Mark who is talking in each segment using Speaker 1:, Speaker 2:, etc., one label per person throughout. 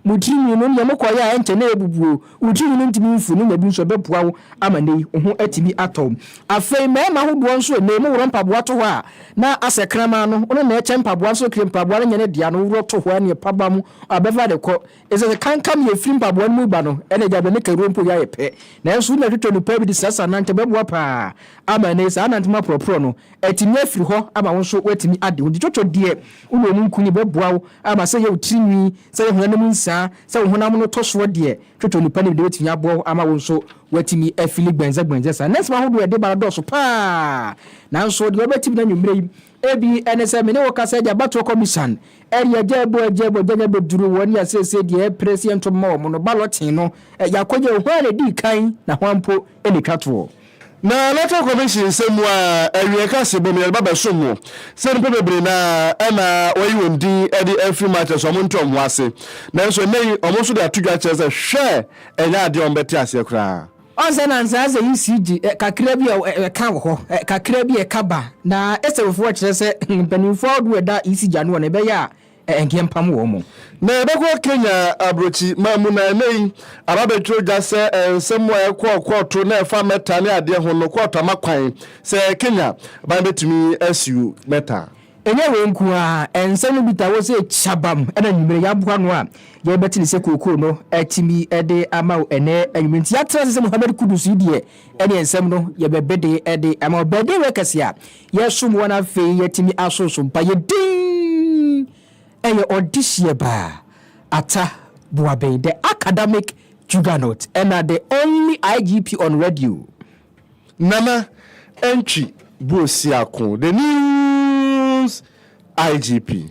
Speaker 1: Mo tirinwi no, nea mokɔyɛ a ɛnkyɛ na ebubu o, wo tirinwi no ntumi mfu, ne nya bi nso a ɛbɛboa wo ama nnɛ yi wo ho atumi atɔ wo. Afei mmarima ahodoɔ nso nnɛ yi moworɔ mpaboa to hɔ a, na asɛ kraman no, wo no na ɛkyɛ mpaboa no, sɛ okire mpaboa no nyɛ ne dea no, woworɔ to hɔ a, nea ɛpaba mu a bɛfa de kɔ. Ɛsɛ sɛ kankam yɛ firi mpaboa no mu ba no, ɛna gya bɛ ne kawuro mpo yɛ ayɛ pɛ. Nanso wo nua twitwa mu paa bi de srasra nankyɛ ɛbɛboa paa ama nnɛ yi saa nantema porɔporɔ no atumi afiri hɔ ama wo nso woatumi ade ho. Nti twitwa deɛ. Wo ne wɔn nkonim bɛboa wo ama sɛ yɛ wo tiri nwi, sɛ yɛ honam mu nsaa, sɛ wo honam no tɔ soɔ deɛ, twotwo nnipa no bi deɛ ɛbɛtumi aboa wo ama wo nso woatumi afili gbɛndzɛgbɛndzɛ saa. Nnɛnsɛm ahodoɔ a ɛde ba no dɔɔso pa ara, nanso deɛ wobɛtim no anwummerɛ yi bi ne sɛ me ne wo kasa de abatoɔ kɔmisan de agya abu agya abu agya nya bɛduru wɔn a seesei deɛ ɛpere sɛ yɛnto mma wɔn no balɔte no, yɛakɔgya hwan na ɛdii kan na hwan mpo na ɛtwa toɔ. Na Electoral
Speaker 2: Commission nsɛm mu ara, awiei ka se Bawumia de ba bɛsom ho sɛ nnipa bebree no ara na wɔayi wɔn din de afiri mu akyerɛ sɛ wɔnte wɔn ho ase. Nanso nnɛ yi, wɔn nso de ato dwa kyerɛ sɛ hwɛ ɛnyɛ adeɛ a wɔbɛte aseɛ koraa. Ɔnsɛ na nsaase
Speaker 1: yi si gye kakra bi a ɛka wɔ hɔ, kakra bi a ɛka ba, na Esaufoɔ kyerɛ sɛ mpanimfoɔ ahodoɔ a ɛda Isi gya no wɔ no, ɛbɛyɛ a Ɛnkeɛ mpam wɔn mu. Na yɛbɛkɔ Kenya
Speaker 2: aburokyi man mu na ɛnɛ yi aba bɛtwerɛ dwa sɛ nsɛm a ɛkɔ kɔɔto na ɛfa Mɛta ne adeɛ ho no kɔɔto ama kwan sɛ Kenya ban bɛtumi asiw Mɛta. Ɛnyɛ wei nko
Speaker 1: ara, nsɛm no bi taa wɔ sɛ kyabam na anwumerɛ yɛaboa ano a yɛbɛte no sɛ kookoo no atumi de ama wo ɛnɛ anwumerɛ nti yɛatena ase sɛ Mohammed Kudus yi deɛ ɛneɛ nsɛm no yɛbɛbede de ama wo bɛdɛ wei kɛse a Yɛsom wɔn afei yɛatumi asonsom pa yɛ din ɛyɛ ɔdehyeɛ baa ata boaben the academic juggernaut ɛna the only igp on radio. Nana
Speaker 2: Antwi Buosiako the news igp.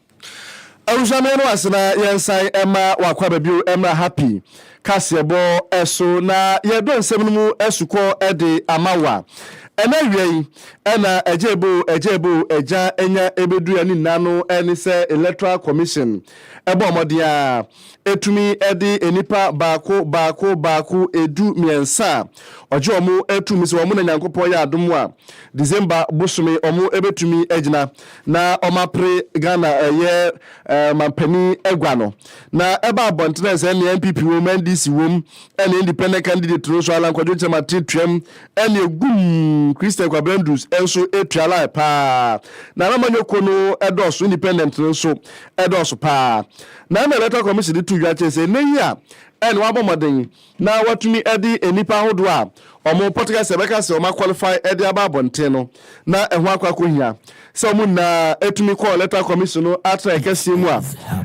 Speaker 2: Abusua meyɛ mo ase na yɛnsan mma w'akwaba bio mmra ha pi kaseɛbɔ so na yɛdɔ nsɛm no mu asukɔ de ama wa. Ɛnɛ awia yi na agya ebo agya ebo agya anya ɛbɛduru ani nna no ne sɛ Electoral Commission ɛbɔ mmɔden a ɛtumi de nnipa baako baako baako ɛdu mmiɛnsa a ɔgye wɔn ɛtu mu sɛ wɔn na Nyankopɔn yɛ adom a December bosome wɔn ɛbɛtumi agyina na wɔapere Ghana ɛyɛ ɔmanpanin agua no. Na ɛba abɔnten a sɛ nea NPP wom, NDC wom, ɛne independent candidate no nso Alan Kwadwo Kyerema te tuam, ɛne egum Christian Kwabena Ndus nso tua line paa. Na Nana Manyoko no dɔɔso, independent no nso dɔɔso paa. Na ɛna Electoral Commission de to dwa kyerɛ sɛ nnɛ yi a ɛne wɔabɔ mmɔden na wɔatumi de nnipa ahodoɔ a wɔpɔteka sɛ ɛbɛka sɛ wɔaqualify de aba abɔnten no, na ɛho akɔ akɔhia sɛ wɔn nyinaa tumi kɔɔ Electoral Commission no atenaeɛ kɛseɛ mu a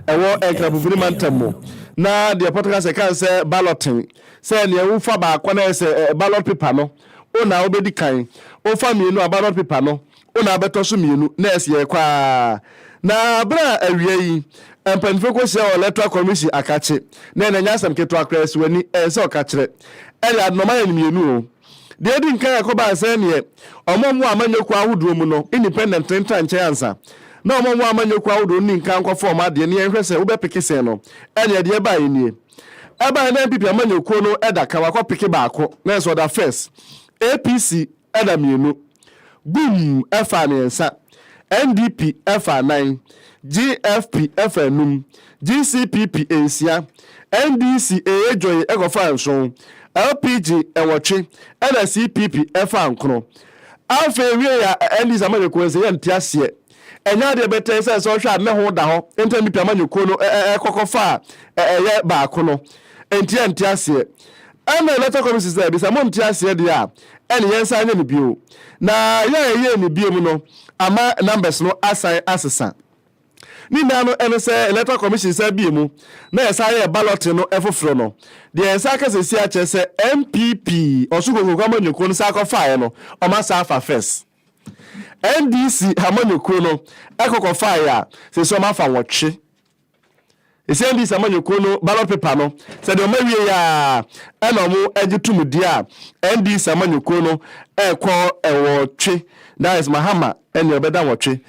Speaker 2: ɛwɔ Nkrapofini mantam mu, na deɛ ɛpɔteka sɛ ɛka sɛ balloting, sɛ nea wofa baako na ɛyɛ sɛ ballot paper no, wo na wobɛdi kan, wofa mmienu a ballot paper no, o na abɛtɔ so mmienu na ɛsi ɛkɔ ara na berɛ a awia yi mpanyinfoɔ kɔhyia wɔ electoral commission akakye na ɛnɛ nyɛ asɛm ketewa koraa ɛsi w'ani ɛyɛ sɛ ɔkakyerɛ ɛyɛ ade na ɔma yɛn mmienu o deɛ edi nkan ɛkɔbaa sɛ neɛ ɔmo ɔmo amanyɔkuo ahodoɔ mu no independent no ntra nkyɛn ansa na ɔmo ɔmo amanyɔkuo ahodoɔ no ni nkan nkɔfa ɔmo adeɛ na yɛnhwɛ sɛ wobɛpeke sɛn no ɛneɛ deɛ ɛbaeɛ nie ɛbaeɛ na NPP amanyɔkuo no ɛda kan wakɔpeke baako na ɛsɛ ɔda first APC ɛna mmienu, Gum ɛfaa mmiɛnsa, NDP ɛfaa nan, GFP ɛfaa nnum, GCPP nsia, NDC ɛyɛ dwoe ɛkɔfaa nson, LPG ɛwɔtwe, ɛna CPP ɛfaa nkron. Afei ɛwieɛ a NDC amanyɔkuo nse yɛnte aseɛ. Ɛnyɛ adeɛ bɛtɛɛ sɛ sɛ ɔhwɛ a nɛ ho da hɔ ntɛm bi pɛ ama nyekuo no ɛkɔkɔ fa a ɛyɛ baako no. Ɛnti yɛ nte aseɛ. Ɛna electoral commission sɛ ɛbi sɛ mo nte aseɛ deɛ a ɛne yɛn san nyɛ no bio. Na yɛ a yɛyɛɛ no biom no ama numbers no asan asesa. Ne nyinaa no ɛne sɛ electoral commission san bie mu na yɛ san yɛɛ balloting no ɛfoforo no. Deɛ yɛn san ka sesie akyerɛ sɛ NPP ɔso kokroko ama nyekuo no san kɔ faeɛ no ɔmo asan afa first. NDC amanyɔkuo no ɛkɔ kɔfaa yɛ a sɛ sɛ ɔmo afa nwɔtwe ɛsɛ NDC amanyɔkuo no ballot paper no sɛ deɛ ɔmo awie yɛ a ɛna ɔmo ɛgye tum di a NDC amanyɔkuo no ɛkɔ ɛwɔtwe that is Mahama ɛna ɔbɛda nwɔtwe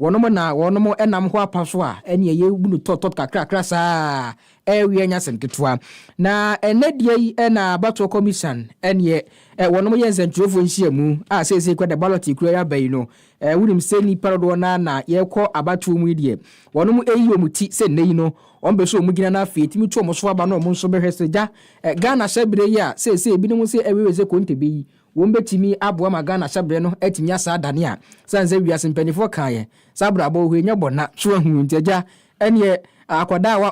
Speaker 1: Wɔnom na wɔnom nam hɔ apa so a ɛne ɛyɛ bunu tɔp tɔp kakrakra saa a ɛreweɛ nyɛ asɛm ketewa. Na ɛnnɛ deɛ yi na abatoɔ kɔmisan ɛneɛ wɔnom yɛ nsɛntwerɛfoɔ nhyiamu a seesei kura da ballot kura yi aba yi no wonim sɛ nnipa dodoɔ no ara na yɛkɔ abatoɔ mu yi deɛ wɔnom reyi wɔn ti sɛ nnɛ yi no wɔn bɛ so wɔn gyina na afei ɛtumi to wɔn so aba na wɔn nso bɛhwɛ sɛ gya Ghana hyɛ berɛ yi a seesei binom sɛ ɛwewe sɛ konte bɛ yi Wom betumi aboa ma Ghana hyɛbrɛ no atumi asan adane a, sane sɛ wiase mpaninfoɔ kaa yɛ sɛ abrabɔ wɔ hɔ yi nyɛ bɔ na. So wahunu nti agya ɛneɛ akwadaa a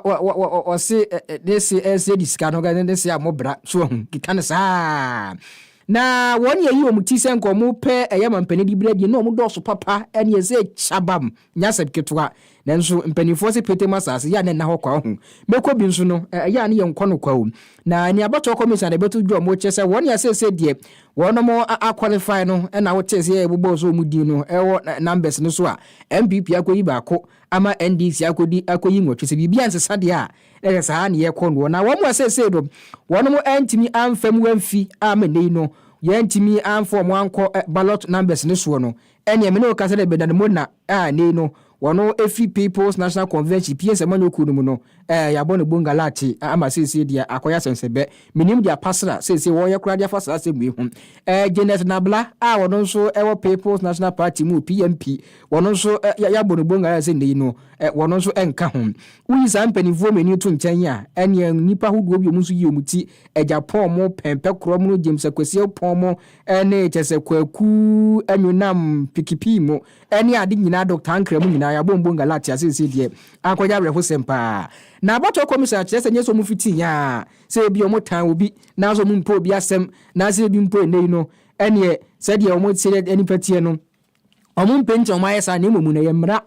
Speaker 1: ɔse ne se ɛnse adi sika no ne ne se a mo bra so wahunu keka no saa na wɔn yɛ yi wɔn ti sɛ nka wɔn pɛ ɛyɛ ma mpanin de bere adie na wɔn dɔɔso papa ɛneɛ sɛ kyabam Nyɛ asɛm ketewa. Nanso mpanimfoɔ se Peter mu asase yɛ a na nna hɔ kwa. Ɔho mɛkɔ bi nso no, ɛyɛ a ne yɛn nkɔ no kwa o. Na nea abatoɔ commission a na ɛbɛto dwa ɔmo kyerɛ sɛ wɔn nea seesei deɛ wɔnom a qualify no na wotee sɛ yɛbobɔɔ sɛ ɔmo din no wɔ numbers no so a NPP akɔyi baako ama NDC akɔdi akɔyi nwɔtwe sɛ biribi ansesa deɛ a na ɛyɛ saa ne yɛkɔ noɔ. Na wɔn a seesei no wɔnom antumi amfa mu amfi a ama nnɛ yi no yɛantumi amfa ɔmo ankɔ ballot numbers no soɔ no Ɛneɛ me ne wo ka sɛdeɛ Bernard Mona a nei no ɔno firi People's National Convention pie nsɛmanyɔ kuo no mu no ɛɛ yɛabɔ no bonga lakye ama seisei deɛ akɔyɛ asɛnsɛbɛ. Menim deɛ Apasra seisei wɔreyɛ koraa de afa saa asɛm wei ho. Ɛɛ Janet Nabla a ɔno nso wɔ People's National Party mu, PNP, ɔno nso ɛ yɛabɔ no bonga ayɛ sɛ nei no ɛ ɔno nso nka ho. Woyi saa mpanimfoɔ mmienu yi to nkyɛn a, ɛneɛ nnipa ahodoɔ bi a wɔn nso yi wɔn ti, Agyapong mo, Pɛn Pɛkorɔm no, James Akwasiaupong mo, ne kyɛ sɛ kwaku nwonam pikipii mu ne ade nyinaa Dɔkta Ankrɛ mu nyinaa yɛabɔ mbɔ Galatia seesei deɛ akɔyɛ awerɛhosɛm paa na abɔtɔ commission akyerɛ sɛ nyɛ sɛ ɔmo fiti nyaa sɛ ebi ɔmo tan obi nanso ɔmo mpɛ obi asɛm na sɛ ebi mpo ɛnɛ yi no ɛneɛ sɛdeɛ ɔmo sɛ nipa teɛ no Wɔmpɛ nti na wɔayɛ saa, na mmom no, ɛyɛ mmara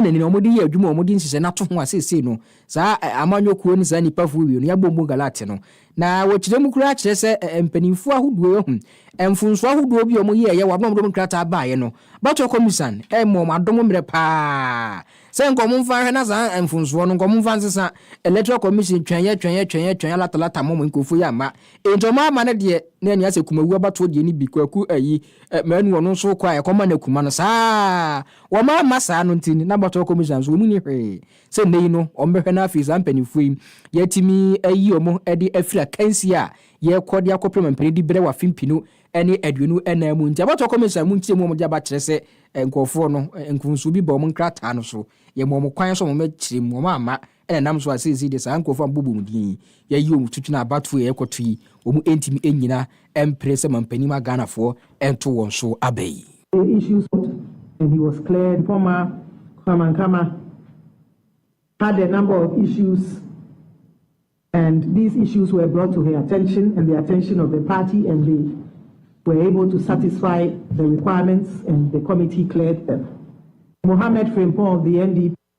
Speaker 1: na nea wɔde yɛ adwuma a wɔde nhyehyɛe no ato ho a seesei no, saa amanyɔ kuo ne saa nnipa fo wie no, yɛabom bɔ Galatia no. Na wɔkyerɛ mu koraa kyerɛ sɛ mpanimfoɔ ahodoɔ yi ahu mfomsoɔ ahodoɔ bi a wɔyɛɛ yɛ wɔ abere a wɔde wɔn nkrataa baaeɛ no. Batoa Kɔmmusan rema wɔn adom mmerɛ pa ara sɛ nka wɔmfa nhwɛ na saa mfomsoɔ no nka wɔmfa nsesa Electoral Commission twɛn yɛ twɛn yɛ twɛn yɛ twɛn yɛ lata lata mom nkurɔfoɔ yi amma. Enti wɔn ama no deɛ na nea sɛ Kumawuo abatoɔ deɛ no bi, Kwaku ayi, Ɛ, Manu ɔno nso kɔ a ɛkɔm ma no akum ano saa ara. Wɔma amma saa no nti, na bɔtɔ kɔmhyɛ nso wɔn nni hwee. Sɛ nnɛ yi no, wɔbɛhwɛ no afei saa mpanimfoɔ yi, yɛatumi ayi wɔn de afiri akansie a yɛrekɔ de akɔpem mpanin di berɛ wɔ afe mpenu ne aduonu nnan mu nti. Abɔtɔ kɔmhyɛ mu nkyerɛmu a wɔde aba kyerɛ sɛ nkurɔfoɔ no, mfomsoɔ bi ba wɔn nkrataa no so. Yɛma wɔn kwan sɛ wɔmmɛkyerɛ mu, wɔamma. Ɛna ɛnam so a seesei deɛ saa nkorɔfoɔ a mobɔbɔ wɔn din yi, yɛayi wɔn to twene abatoɔ a ɛrekɔto yi, wɔn ntumi nnyina mpere sɛ mampanin ma Ghanafoɔ nto wɔn so aba yi. The issue
Speaker 3: stopped and he was cleared former Kwame Nkrumah had a number of issues and these issues were brought to her attention and the attention of the party and they were able to satisfy the requirements and the committee cleared them. Mohammed Frimpong of the NDP.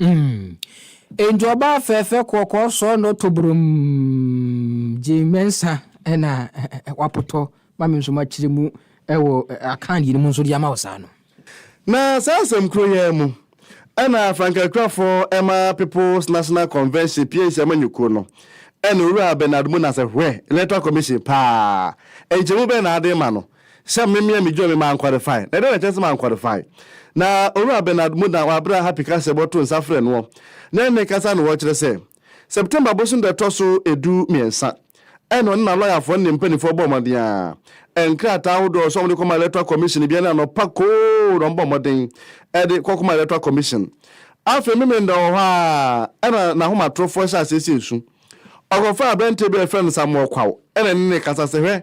Speaker 3: Mm.
Speaker 1: Enti ɔbaa fɛɛfɛ kɔkɔɔ sɔɔ no to brom gye mɛnsa ɛna wapotɔ ma me nso makyerɛ mu ɛwɔ akan yiri mu nso de ama wo saa no. Na saa
Speaker 2: asɛm koro yi ara mu ɛna Frankakrafoɔ ɛma People's National Convention pie nhyia ma nyekuo no ɛna Owura Bernard Muna sɛ hwɛ Electoral Commission paa nkyɛmu bɛn na ade ma no Sɛ me mea midwoo me mankwalifai, na dɛn na ɛkyerɛ sɛ mankwalifai? Na Owura Bernard Mudnah wɔ abere a Happy ka sɛ bɔto nsa frɛ noɔ, na ɛnne kasa na ɔkyerɛ sɛ September bosom da ɛtɔ so edu miensa ɛna ɔne na lɔyafoɔ ne ne mpaninfoɔ bɔɔ mmɔden a nkrataa ahodoɔ sɛ wɔde kɔma Electoral Commission bia ne anɔpa koo na wɔbɔ mmɔden ɛde kɔkɔma Electoral Commission. Afei Memenda wɔ hɔ a ɛna n'ahomatorofoɔ hyɛ aseɛ sɛ esu. Ɔkɔfaa aberanteɛ bi a yɛfrɛ no Samuel Kwaw na ɛne no kasa sɛ, Hwɛ,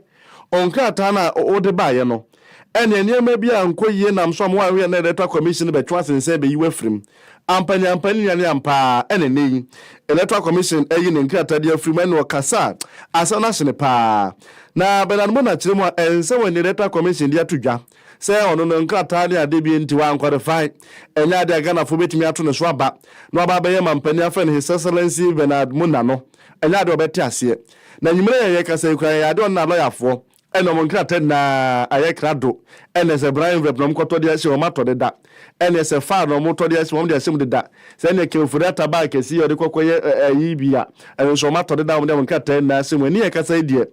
Speaker 2: wo nkrataa no a wode baeɛ no, ɛnneɛ nneɛma bi ankɔ yie nam so a mo ayɛ na Electoral Commission no bɛtwe w'ase nsa bɛyi wo afiri mu. Ampa ni ampa ni nua ne ampa ara na ɛnnɛ yi Electoral Commission ayi ne nkrataa de afiri mu ɛnneɛ ɔkasa a asɛm no ahyene pa ara. Na Bernard Mona kyerɛ mu a ɛnsɛ wɔ nea Electoral Commission de ato dwa sɛ ɔno no nkrataa ne ade bi nti wankwalifai, ɛnyɛ ade a Ghanafoɔ bɛtumi ato ne so aba na waba abɛyɛ mampanin afrɛ no His Excellency Bernard Muna no, ɛnyɛ ade a ɔbɛte aseɛ. Na anwummerɛ yi a yɛrekasa yi koraa yɛyɛ ade a ɔne n'alɔyafoɔ, ɛne wɔn nkrataa nyinaa ayɛ krado, ɛne sɛ brown envelope na wɔkɔtɔ de ahyɛ wɔn atɔ deda, ɛne sɛ file na wɔtɔ de ahyɛ wɔn de ahyɛ mu deda, sɛ ɛne Ken Ofori-Atta bag kɛseɛ yi a ɔde kɔkɔyɛ ayi bi a, ɛno nso wɔatɔ deda a wɔde wɔn nkrataa nyinaa ahyɛ mu. Ɛne yɛrekasa yi deɛ,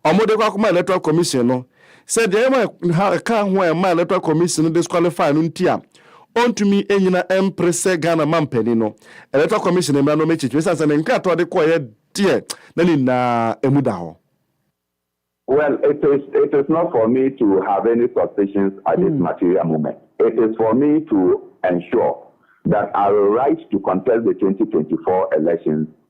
Speaker 2: wɔde kɔ akɔma Electoral Commission no, sɛ deɛ ɛma ɛha ɛka ho a ɛma Electoral Commission no disqualify no nti a, ɔntumi nnyina mpere sɛ Ghana mampanin no. Electoral Commission mmara no wɔakyekyere ɛsiane sɛ ne nkrataa a ɔde kɔeɛ deɛ na ne nyinaa emu da hɔ.
Speaker 4: Well, it is, it is not for me to have any suspicions at this material moment. It is for me to ensure that I will right to contest the 2024 elections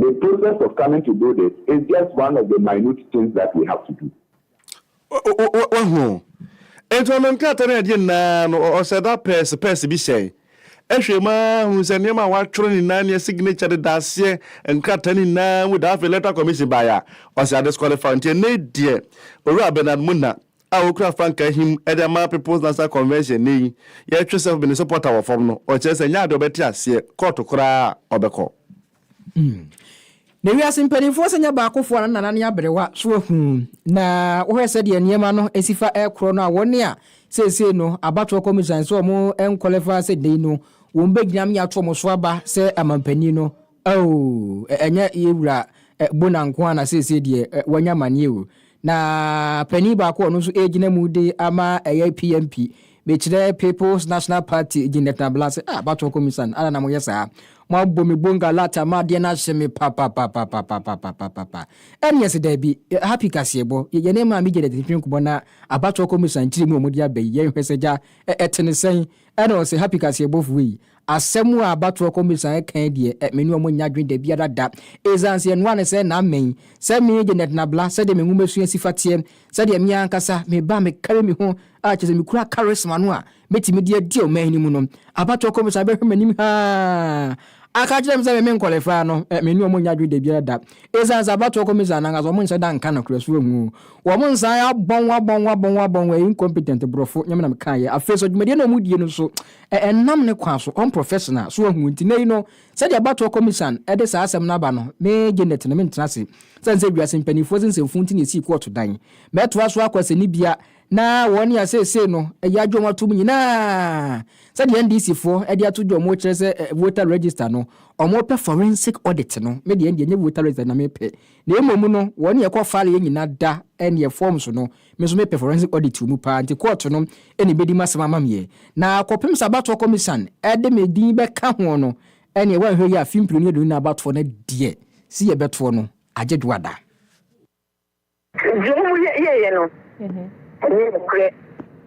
Speaker 4: The process of coming to do this is just one of the minute things that
Speaker 2: we have to do. Wahu? Enti ɔnam nkrataa ne adeɛ nyinaa no, ɔsɛ da pɛɛse pɛɛse bi hyɛe. Ɛhwɛ mu ara hunu sɛ nneɛma a wɔatwerɛ no nyinaa ne signature de da aseɛ nkrataa no nyinaa mu da. Afei Electoral Commission baeɛ a, ɔsɛ adisqualify. Enti ɛnnɛ yi deɛ, Owura Bernard Muna a ɔkura frankaa him de ama People's National Convention nnɛ yi, yɛtwe sɛ Mene supporter wɔ fam no, ɔkyerɛ sɛ ɛnyɛ adeɛ a ɔbɛte aseɛ, kɔɔto koraa a ɔbɛkɔ.
Speaker 1: Na wiase mpanimfoɔ sɛ nyɛ baakofoɔ a na nana ne aberewa so ahu na wohwɛ sɛdeɛ nneɛma no si fa ɛkorɔ no a wɔn a seesei no abatoɔ kɔmisan sɛ wɔn nkɔlɛfa sɛ dei no wɔn bɛgyina me ato wɔn so aba sɛ amampanin no ao ɛnyɛ yɛ wura bona nko a na seesei deɛ wanya maneɛ o na panin baako ɔno nso ɛgyina mu de ama ɛyɛ PMP Mekyerɛ People's National Party gye Nɛtena Bla sɛ, Ah, Batoɔ Komisan, adɛn na moyɛ saa? Moabɔ me Bonga Lat ama adeɛ no ahye me papapapapapapapapapa. Ɛneɛ se daabi, Happy Kaseɛbɔ, yɛne Maame Janet ntwetwe nkɔmmɔ na Abatoɔ Komisan kyerɛ mu a wɔde aba yi, yɛnhwɛ sɛ gya ɛte no sɛn? Ɛna ɔse, Happy Kaseɛbɔfoɔ ei, Asɛm a abatoɔ kɔmisa ɛkae deɛ ɛ me ne ɔmo nnya adwene dabiara da. Esiane sɛ ɛnoa ne sɛ naa mɛn sɛ me Janet Nabla sɛdeɛ me nwomasua si fa teɛ, sɛdeɛ me ankasa me ba me kari me ho a kyerɛ sɛ me kura karisma no a mɛtumi de adi ɔman no mu no. Abatoɔ kɔmisa bɛhwɛ m'anim haa aka akyerɛ me sɛ me me nkɔlifaa no ɛ me ne ɔmo nnya adwene dabiara da. Esiane sɛ abatoɔ kɔmisa no ankasa ɔmo nhyɛ da nka nokorɛ so ɔho wɔn nsa ayɛ abɔn abɔn abɔn abɔn ɛyɛ incompetent borɔfo nyɛ me na mekaeɛ. Afei nso dwumadie no a ɔmo die no nso Ɛ ɛnam ne kwan so unprofessional so wahu nti nnɛ yi no sɛdeɛ abatoɔ kɔmisan de saa asɛm no aba no me Janet no mentena ase sɛne sɛ wiase mpaninfoɔ se nsɛmfuu nti na ɛsii kɔɔto dan mɛtoa so akɔ asɛnnibea na wɔn nea seesei no yɛagye wɔn atom nyinaa sɛdeɛ NDC foɔ de ato dwa wɔn kyerɛ sɛ voter register no wɔn pɛ forensic audit no me deɛ ɛndeɛ nyɛ voter register na mepɛ na mmom no wɔn nea ɛkɔ faleɛ nyina da ɛneɛ forms no Me nso mepɛ forensic audit wɔ mu paa nti kɔɔto no na ɛbɛdi m'asɛm ama me ɛ. Na kɔpem sɛ abatoɔ kɔmisan de me din bɛka ho no ɛneɛ woanhwɛ yie a afe mprenu aduonu na abatoɔ no deɛ si yɛbɛtoɔ no agye dwoada. Deɛ ɔmo
Speaker 5: yɛɛyɛ no nyɛ nokorɛ.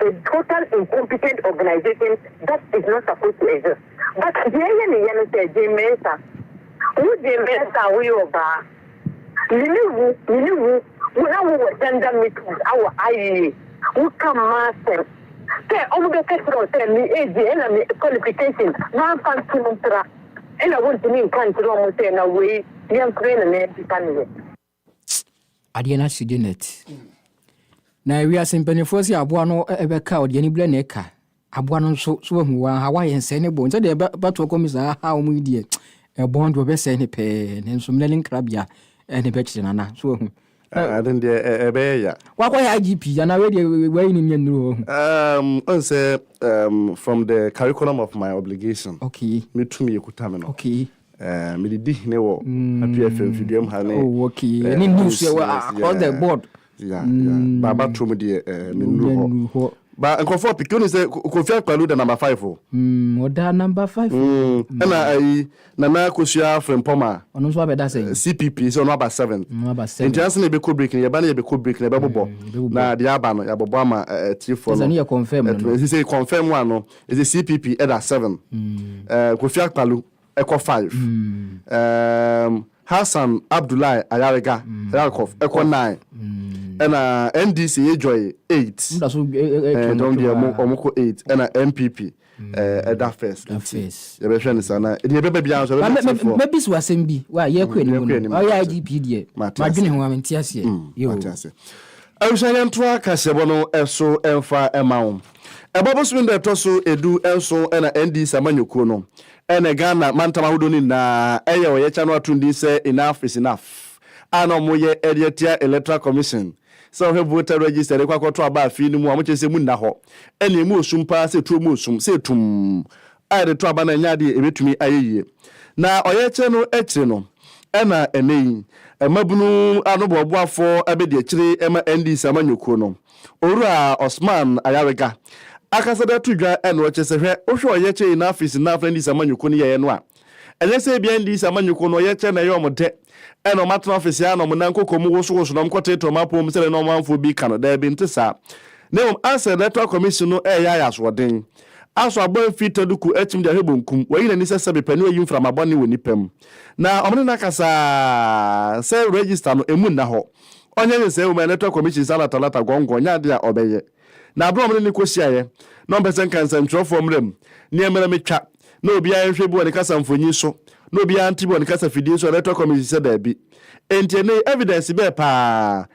Speaker 5: a total incompetent organisation that is not supposed to exist but deɛ ɛyɛ ne yɛ no sɛ Jane Mensah wo Jane Mensah wo yɛ ɔbaa me ne wo me ne wo wo na wo wɔ gender meetings awɔ IEA wo ka mmaa asɛm sɛ ɔmo bɛ kɛ kyerɛ wo sɛ me age ɛna me qualification manfa nto no mpra ɛna wo ntumi nka nkyerɛ ɔmo sɛ na wei yɛmfrɛ no na yɛmpepa ne yɛ.
Speaker 1: adeɛ no ahyegye net na wiase mpanimfoɔ sɛ aboa no ɛbɛka ɔde ani bilɛ na ɛka aboa no nso so wahu wa ha wayɛ nsɛe ne bɔn sɛdeɛ ɛbɛto ɔkɔm saa ha wɔn yi deɛ ɛbɔn deɛ ɔbɛsɛe ne pɛɛ ne nso mmerɛ ne nkrabea ɛne bɛkyerɛ nana so wahu ade deɛ
Speaker 2: ɛbɛyɛ ya wakɔyɛ igp
Speaker 1: anaa wei deɛ wayi ne nyɛ nnuro ɔhu um, ɔn sɛ um,
Speaker 2: from the curriculum of my obligation okay. metumi
Speaker 1: ɛkuta me
Speaker 2: no okay. Eh,
Speaker 1: mede di
Speaker 2: hene wɔ Apuei Afia mfiduam ha ne Oh, okay. eh, Ɛne
Speaker 1: news yɛ wɔ yes, across the yeah. board. Yeah, yeah.
Speaker 2: Mm. Ba abatom deɛ eh, mennuru hɔ. Wonuru hɔ. Ba nkurɔfoɔ pii wonim sɛ Ko- Kofi Akpaloo da number five o. Mm, ɔda
Speaker 1: number five. Mm, ɛna ayi
Speaker 2: Nana Akosua Frimpong a Ɔno nso abɛda sɛn? eh,
Speaker 1: CPP sɛ ɔno aba
Speaker 2: seventh. Ɔno aba seven. Nti ansa na
Speaker 1: yɛbɛkɔ break no
Speaker 2: yɛba no yɛbɛkɔ break no yɛbɛbobɔ yɛbɛbobɔ. na deɛ aba no yɛabobɔ ama eh, eh, atiefoɔ Ɛsɛ no. no yɛ confirm no. Ɛtumi- ɛsɛ
Speaker 1: sɛ confirm a
Speaker 2: no Edze CPP da seven, Kofi Akpalu kɔ five, Hassan Abdullahi Ayariga, Yarkof, kɔ nine, nna NDC Edwoy eight,
Speaker 1: dɔm
Speaker 2: deɛ wɔn kɔ eight, nna NPP da first, nti yɛbɛhwɛ no saa na deɛ ɛbɛba biara nso ɛbɛma atiefoɔ. Mɛbisi wo asɛm
Speaker 1: bi, wa yɛkɔ anim no, Yɛkɔ anim, ɔyɛ mate. IGP deɛ, Mate ase. madwene ho a mente aseɛ. Mm, Yo. mate ase. Abusua
Speaker 2: yɛntoa kaseɛbɔ no so mfa ma wo. Ɛbɔ bosome da ɛtɔ so du nson na ND sɛ amanyɔkuo no ne Ghana mantam ahodoɔ no nyinaa yɛ ɔyɛkyɛ no ato din sɛ Enough is Enough a na wɔyɛ de atia Electoral Commission sɛ wɔhwɛ voter register de kɔ akɔto aba afei no mu a wɔkyerɛ sɛ emu nna hɔ ɛnna emu wɔ sum paa sɛ tuo mu ɔsum sɛ etum a yɛde to aba no ɛnyɛ adeɛ ebetumi ayɛ yie na ɔyɛkyɛ no akyire no ɛnna ɛnɛ yi mmabunu anoboaboafoɔ abɛdi akyire ma ND sɛ amanyɔkuo no Owura Osman Ayariga akasa de ato dwa na ɔkyerɛ sɛ hwɛ, wohwɛ ɔyɛkyerɛ nyinaa firi Sena Afena NDC amanyɔkuo no yɛeɛ no a, ɛnyɛ sɛ ebia NDC amanyɔkuo no ɔyɛkyerɛ na ɛyɛ wɔn dɛ na wɔatena ɔfese ara na wɔn nan kɔkɔɔ mu wosowoso na wɔkɔtetɛ wɔn apɔw mu sɛdeɛ na ɔmanfoɔ bi reka no, daabi nte saa. Na mmom asɛ Electoral Commission no reyɛ ayɛ asoɔden. Aso abɔ amfiri taduku akyim de ahwɛ bonkum, wayi n'ani sɛ sɛbe pɛ na wayi mframa bɔne wɔ nnipa mu. Na wɔne no akasa ara sɛ register no, ɛmu nna hɔ. ɔnyɛ nhyehyɛe wom a Electoral Commission san na Talata gɔngɔn nyɛ ade a ɔbɛyɛ. Na bere a wɔne no kohyiaeɛ, na ɔmpɛ sɛ nka nsɛnkyerɛwfoɔ mmra mu, nneɛma no metwa, na obiara nhwɛ bi wɔ ne kasa mfonyin so, na obiara nte bi wɔ ne kasa fidie so a Electoral Commission sɛ daabi. Enti ɛnnɛ yi evidence bɛɛ paa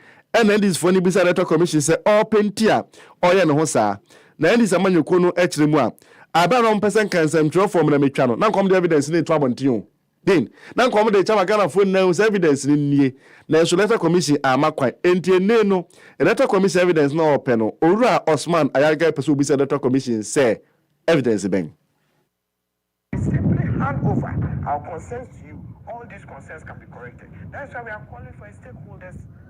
Speaker 2: na NDCfoɔ no bisa Electoral Commission sɛ ɔpɛ nti a ɔyɛ ne ho saa? Na NDC amanyɔkuo no kyerɛ mu a, bere a na wɔmpɛ sɛ nka nsɛmtwerɛfoɔ mmra metwa no, na nka wɔde evidence no reto abɔnten o. Dean, Na nka wɔde rekyɛ ama Ghanafoɔ nyinaa ahu sɛ evidence no nie, nanso Electoral Commission amma kwan. Enti ennee no, Electoral Commission evidence no a wɔpɛ no, Owura Osman Ayarigai pɛ sɛ ɔbisa Electoral Commission sɛ, Evidence bɛn?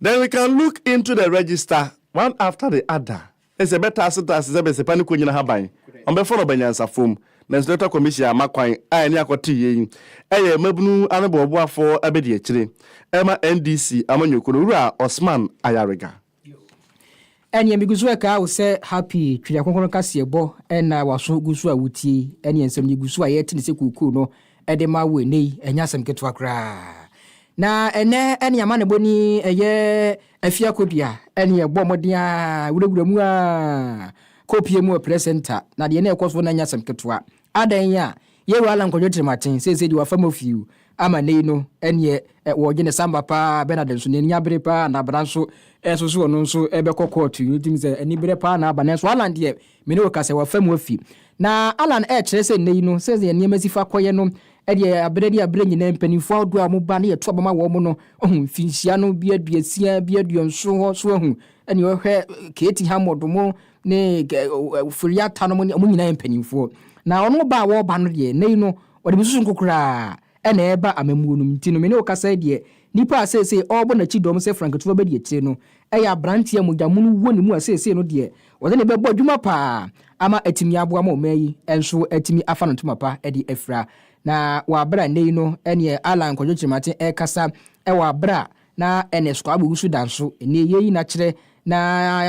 Speaker 6: Then we
Speaker 2: can look into the register one after the other. Ɛsɛ ɛbɛtaase taase sɛ bɛsɛpa ne kɔnyina haban, ɔmbɛfa no ɔba nyansafoɔ mu. Nanso Electoral Commission amma kwan a ɛne akɔteeɛ yi ɛyɛ mmabunu anoboaboafoɔ abadiakyire ɛma NDC amanyɔkuo no Wura Osman Ayariga.
Speaker 1: Ɛnneɛ megu so ɛkaa wo sɛ Happy Twere Kronkron Nkaseɛbɔ na w'aso gu so a wotie yi, ɛnneɛ nsɛm no gu so a yɛte no sɛ kuukuu no de ma wo ɛnnɛ yi, ɛnyɛ asɛm ketewa koraa. Na ɛnnɛ ɛnneɛ amanebɔ ni, ɛyɛ afie akodua, ɛnneɛ bɔ mmɔden ara, wurawura mu ara, kɔ pue mu wɔ Press Center, na deɛ na ɛrekɔ so no ɛnyɛ asɛm ketewa, Adɛn nye a, yɛwura Allan Kwadwo Kyerematen seesei de wafa mu fiu ama nnɛ yi no, ɛneɛ wɔɔgye ne samba paa, Bernard nso n'ani abere paa anaa bra nso nso so ɔno nso bɛkɔ kɔɔto yi, wotumi sɛ aniberɛ paa na aba, nanso Allan deɛ me ne wo ka sɛ wafa mu afi. Na Allan ɛɛkyerɛ sɛ nnɛ yi no sɛdeɛ nneɛma si fa kɔyɛ no ɛdeɛ aberɛ ne aberɛ nyinaa mpaninfoɔ ahodoɔ a wɔn ba ne yɛto aba ma wɔn no ohu mfinhyia no bi aduasia bi aduɔnson hɔ so ahu ɛneɛ ɔhwɛ Katie Hammond wɔn ne Furiata nom ne wɔn nyinaa yɛ mpanimfoɔ. Na wɔn ba a wɔreba no deɛ, nnɛ yi no, wɔde besusu nko koraa na ɛreba amammuo nom. Nti no, me ne wo kasa yi deɛ, nipa a seesei ɔrebɔ n'akyi dɔm sɛ franketewa bɛdi akyire no yɛ aberanteɛ a mogyamono wɔ ne mu a seesei no deɛ, wɔde no bɛbɔ adwuma pa ara ama atumi aboa ma ɔman yi nso atumi afa no ntoma pa de afira. Na wɔ abere a nnɛ yi no, ɛneɛ Allan Kwadwo Kyerematen rekasa wɔ abere a Na ɛnɛ Squabble guso da nso ɛnɛ yɛyi no akyerɛ na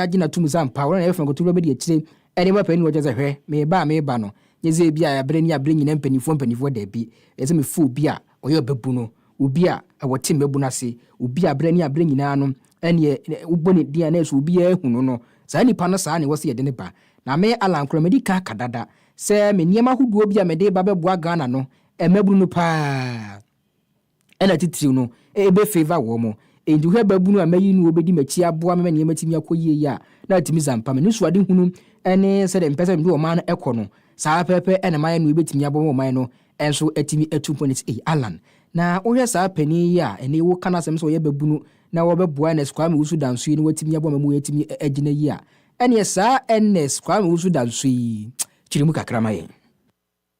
Speaker 1: yɛagye no atom dze ampa hɔn na yɛfrɛ no nkotowura bɛdi akyire ɛne mapɛ ne wɔgya dze hwɛ meba a meba no nye dze ebi a aberɛ nie aberɛ nyina mpanyinfoɔ mpanyinfoɔ daabi ɛyɛ sɛ mefrɛ obi a ɔyɛ ɔbɛbu no obi a wɔte mmabunu ase obi a aberɛ nie aberɛ nyinaa no ɛneɛ wobɔ ne din a na ɛsɛ obiara hu no no saa nipa no saa na ɛwɔ sɛ yɛde no ba na me Allan koraa madi kan aka dada sɛ me nneɛma ahodoɔ bi a mede reba bɛboa Ghana no mmabunu no paa. Ɛna titiriw no, ebe favour wɔn. Enti hwɛ babunu a mayi no a obedi m'akyi aboa me ma nneɛma atumi akɔ yiye yi a na atumi dza mpa me. Ne suadehunu ne sɛdeɛ mpɛ sɛ mede ɔman no kɔ no, saa ara pɛpɛpɛ na mayɛ no ebetumi aboa ma ɔman no nso atumi atu mpɔn asi. Ei, Allan, na wohwɛ saa panin yi a ɛnnɛ yi woka n'asɛm sɛ ɔyɛ babunu na ɔrebɛboa Ernest Kwame Owusu Danso yi na watumi aboa ma wɔatumi agyina yi a, ɛnneɛ saa Ernest Kwame Owusu Danso yi kyere mu kakra ma yɛn.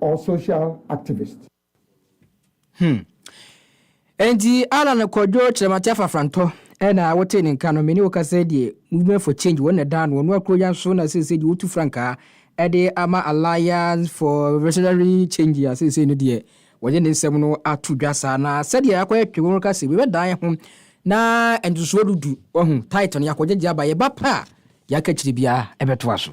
Speaker 7: or social activist. Hmm.
Speaker 1: Enti Alan Kwadwo Kyerɛmate Afafrantɔ na wotee ne nka no, me ne wo kasa deɛ Movement for Change wɔn na ɛdaa no, wɔn akuro yan so na seesei deɛ wotu frankaa ɛde ama Alliance for Revolutionary Change a seesei no deɛ wɔde ne nsɛm no ato dwa saa na sɛdeɛ akɔyɛ twe wɔn ka se wɔbɛdan yɛ ho na ntosoɔ dudu wahu title no yɛakɔgyegye aba yɛba pɛ a deɛ aka akyire biara ɛbɛtoa so.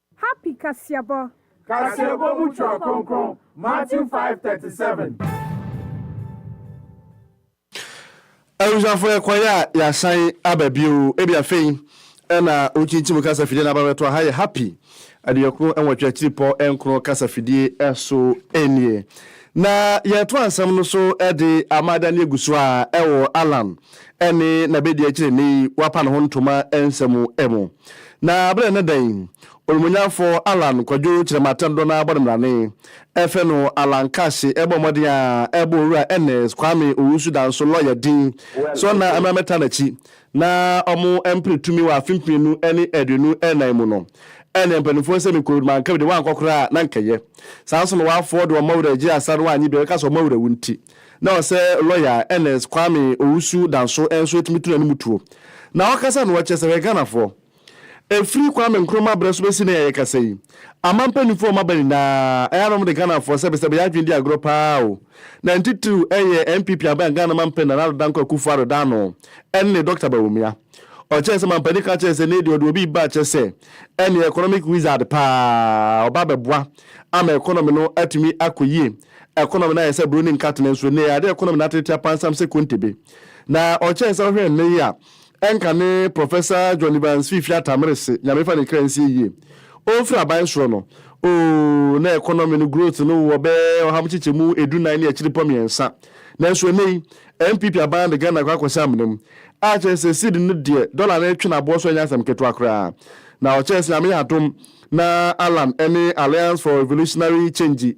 Speaker 8: Happy
Speaker 2: Kaseɛbɔ. Kaseɛbɔ mu Twerɛ Kronkron, Matthew five thirty seven. Abusuafo yɛkɔeɛ a yɛasan aba bio ebi afei na wokyinkyim kasa fidie no aba bɛto aha yɛ happy aduɔkron nwɔtwe akyiripɔ nkron kasa fidie so nie na yɛto ansɛm no so de ama da ne egu so a ɛwɔ Alan ne n'abadiakyiri nne yi wapa ne ho ntoma nsɛm mu. Na bere ne dɛn? Onumonyamfo Allan Kwadwo Kyerematendodo no ara bɔ ne mmrane. Ɛfɛ no Allan Kaahye bɔ mmɔden a ɛbɔ Owura Ernest Kwame Owusu Danso lɔya din sɛ ɔnna mmra mmɛtra n'akyi na wɔmpere tumi wɔ afe mpenu ne aduonu nnan mu no. Ɛnneɛ mpanimfoɔ nsɛm nkoeɛ no manka bi de wɔankɔ koraa a na anka ɛyɛ. Saa nso na wɔafoɔ de wɔn mma wura agye asa no wɔannye bi a ɛbɛka sɛ wɔn mma wura wu nti Na ɔsɛ lɔya a Ernest Kwame Owusu da nso nso etumi tena ne mu tuo. Na ɔkasa no ɔkyɛ sɛ ɔyɛ Ghanafoɔ. Efiri Kwame Nkrumah berɛ so bɛsi nnɛ yi a yɛkasa yi, aman mpaninfoɔ a wɔn aba nyinaa ɛyɛ a na wɔde Ghanafoɔ sɛbesɛbe yɛ adwene di agorɔ pa ara o. Na ntitiriw ɛyɛ NPP aban Ghana manpanin Nana Addo Dankwa Akufo Addo Daano ɛne Dɔkta Bawumia. Ɔkyɛɛ sɛ manpanin ka kyɛɛ sɛ nei deɛ ɔde obi reba kyɛ sɛ ɛneɛ economic wizard pa ara ɔba abɛboa ama economy no atumi akɔ yie Ɛkonɔm no ayɛ sɛ buro ne nkate no nso nnɛ yi ade a ɛkonɔm no atrɛtrɛ apansam sɛ kontebe. Na ɔkyɛn sɛ wohwɛ nnɛ yi a, ɛnka ne Prɔfɛsa John Evans fiifii Atamere se, Nyame fa ne kra nsie yie. Ɔmfiri aban soro no, oo, na ɛkonɔm no growth no wɔ bɛyɛ ɔha mu kyekyɛmu edu nan ne akyiri pɔ mmiɛnsa. Nanso nnɛ yi, NPP aban de Ghana kɔ akɔhyɛ amena mu. A kyerɛ sɛ cedi no deɛ, dɔla no retwe no aboɔ so ɛnyɛ asɛm ketewa koraa. Na ɔkyɛn sɛ Nyame yɛ adom na Allan ne Alliance for Revolutionary Change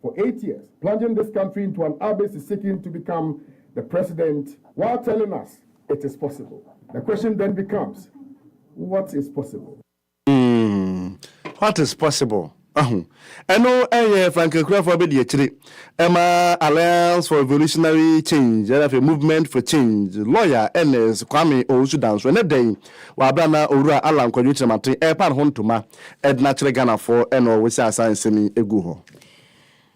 Speaker 9: for eight years plunging this country into an abyss seeking to become the president while telling us it is possible the question then becomes what is possible. Hmm,
Speaker 2: what is possible? Ahu. Ɛno ɛyɛ Frank Akurafoɔ abɛdi akyire ɛma Alliance for Revolutionary Change ɛna afei Movement for Change lawyer Ernest Kwame Owusu Danso ɛnɛ da yi Wɔ aberɛ a na Owura Allan Kwadwo Kyerematen repa ne ho ntoma ɛdena kyerɛ Ghanafoɔ ɛna ɔwɔ saa saa nsɛm yi ɛgu hɔ.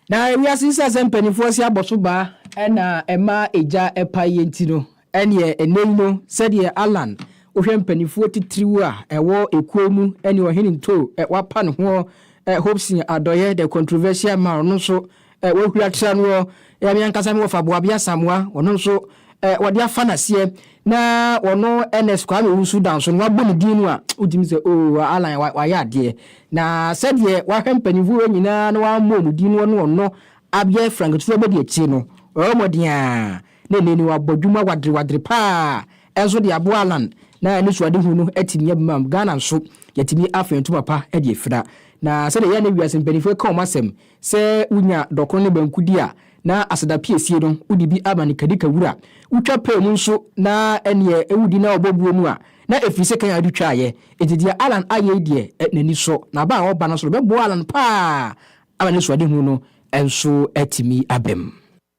Speaker 2: Na
Speaker 1: wiase nsa sɛ mpaninfoɔ se abɔso baa ɛna ɛma egya ɛpa yie nti no ɛneɛ ɛnɛ yi no sɛdeɛ Allan wohwɛ mpaninfoɔ titiriw a ɛwɔ ekuo yi mu ɛne Ɔhene Ntoo wapa ne ho ɛ Hopson Adɔeɛ the controversial man ɔno nso Eh, wɔahura tra noɔ, eh, me ankasa me wɔfa Boabi Asamoa, ɔno nso eh, wɔde afa n'aseɛ na ɔno Ernest Kwame Owusu da nso no wabɔ ne din no a wotumi sɛ o oh, Alan wayɛ adeɛ na sɛdeɛ wahwɛ mpanyinfoɔ wɔ nyinaa na wammɔ ɔmo din no ɔno ɔno abɛyɛ Frank Tutu abɛdi akyire no ɔyɛ ɔmɔden a na ɛnɛ ni wabɔ dwuma wadere wadere paa ɛnso de aboa Alan na ɛne suadehu no atumi abima Ghana nso yɛtumi afɛn ntoma pa de afira na sɛdeɛ yɛn ne wiase mpanyinfoɔ ka ɔmo asɛm Sɛ wunya dɔkono ne banku di a, na aseda piesie no, wode bi ama ne kadika wura. Wutwa pɛɛ mu nso, na ɛnneɛ wudi na wɔbɔ buo mu a, na ɛfiri sɛ kan ade twaeɛ. Enti deɛ Alan ayɛ yi deɛ, n'ani sɔ. N'aba a ɔreba no so no bɛboa Alan pa ara ama n'asuadehunu no nso atumi abam.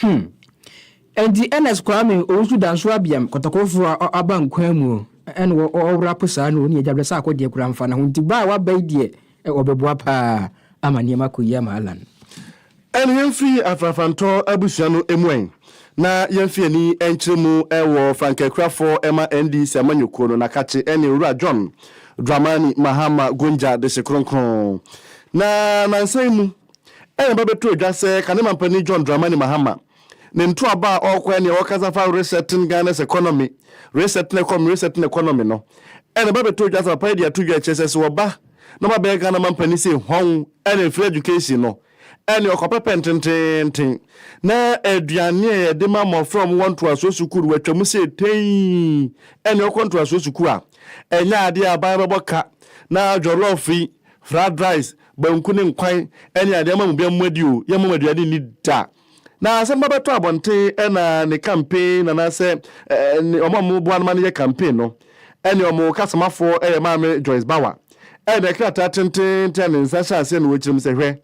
Speaker 9: Hmm.
Speaker 1: Enti Ernest Kwame Owusu Danso Abiam kɔtɔkɔrɔfo a ɔaba nkwa mu na ɔwora po saa no ɔne agya berɛ sɛ akɔdeɛ koraa mfa ne ho nti ba a waba yi deɛ ɔbɛboa paa ama nneɛma akɔ yie ama Allan. Ɛne
Speaker 2: yɛmfiri afrafrantɔ abusua no mu ɛ na yɛmfi ani nkyerɛ mu wɔ frankaakurafoɔ ma NDC amanyɔkuo no Nakakye ɛne Owura John Dramani Mahama Gunja Desekronkron na nansa yi mu. Ɛreba bɛto adwa sɛ kane mampanin John Dramani Mahama ne ntoaba a ɔrekɔ ɛne a ɔrekasa fa resetting Ghana's economy, resetting economy, resetting economy no ɛna ɛba bɛto adwa sɛ papa yi de ato dwa kyerɛ sɛ sɛ ɔba na ɔba bɛyɛ Ghana mampanin sɛ hɔn ɛne free education no ɛne ɔkɔpɛ pɛn tenteenten na aduane a yɛde ma mmɔfra wɔn wɔ ntoasoɔ sukuu no wɔatwam sɛ tei ɛne ɔkɔ ntoasoɔ sukuu a ɛnyɛ adeɛ a aban bɛbɔ ka na jollof yi, fried rice, Banku ne nkwan ne adeɛ ama mo bia mo adi o, yɛmma mo aduane nni da. Na sɛ mo ba bɛtɔ abɔnten na ne campaign anaasɛ ne wɔn a wɔn boa no ma no yɛ campaign no, ɛne wɔn kasamafɔɔ yɛ maame Joyce Bawa. Ɛne krataa tententen a ne nsa hyɛ aseɛ na ɔkyerɛ mu sɛ hwɛ,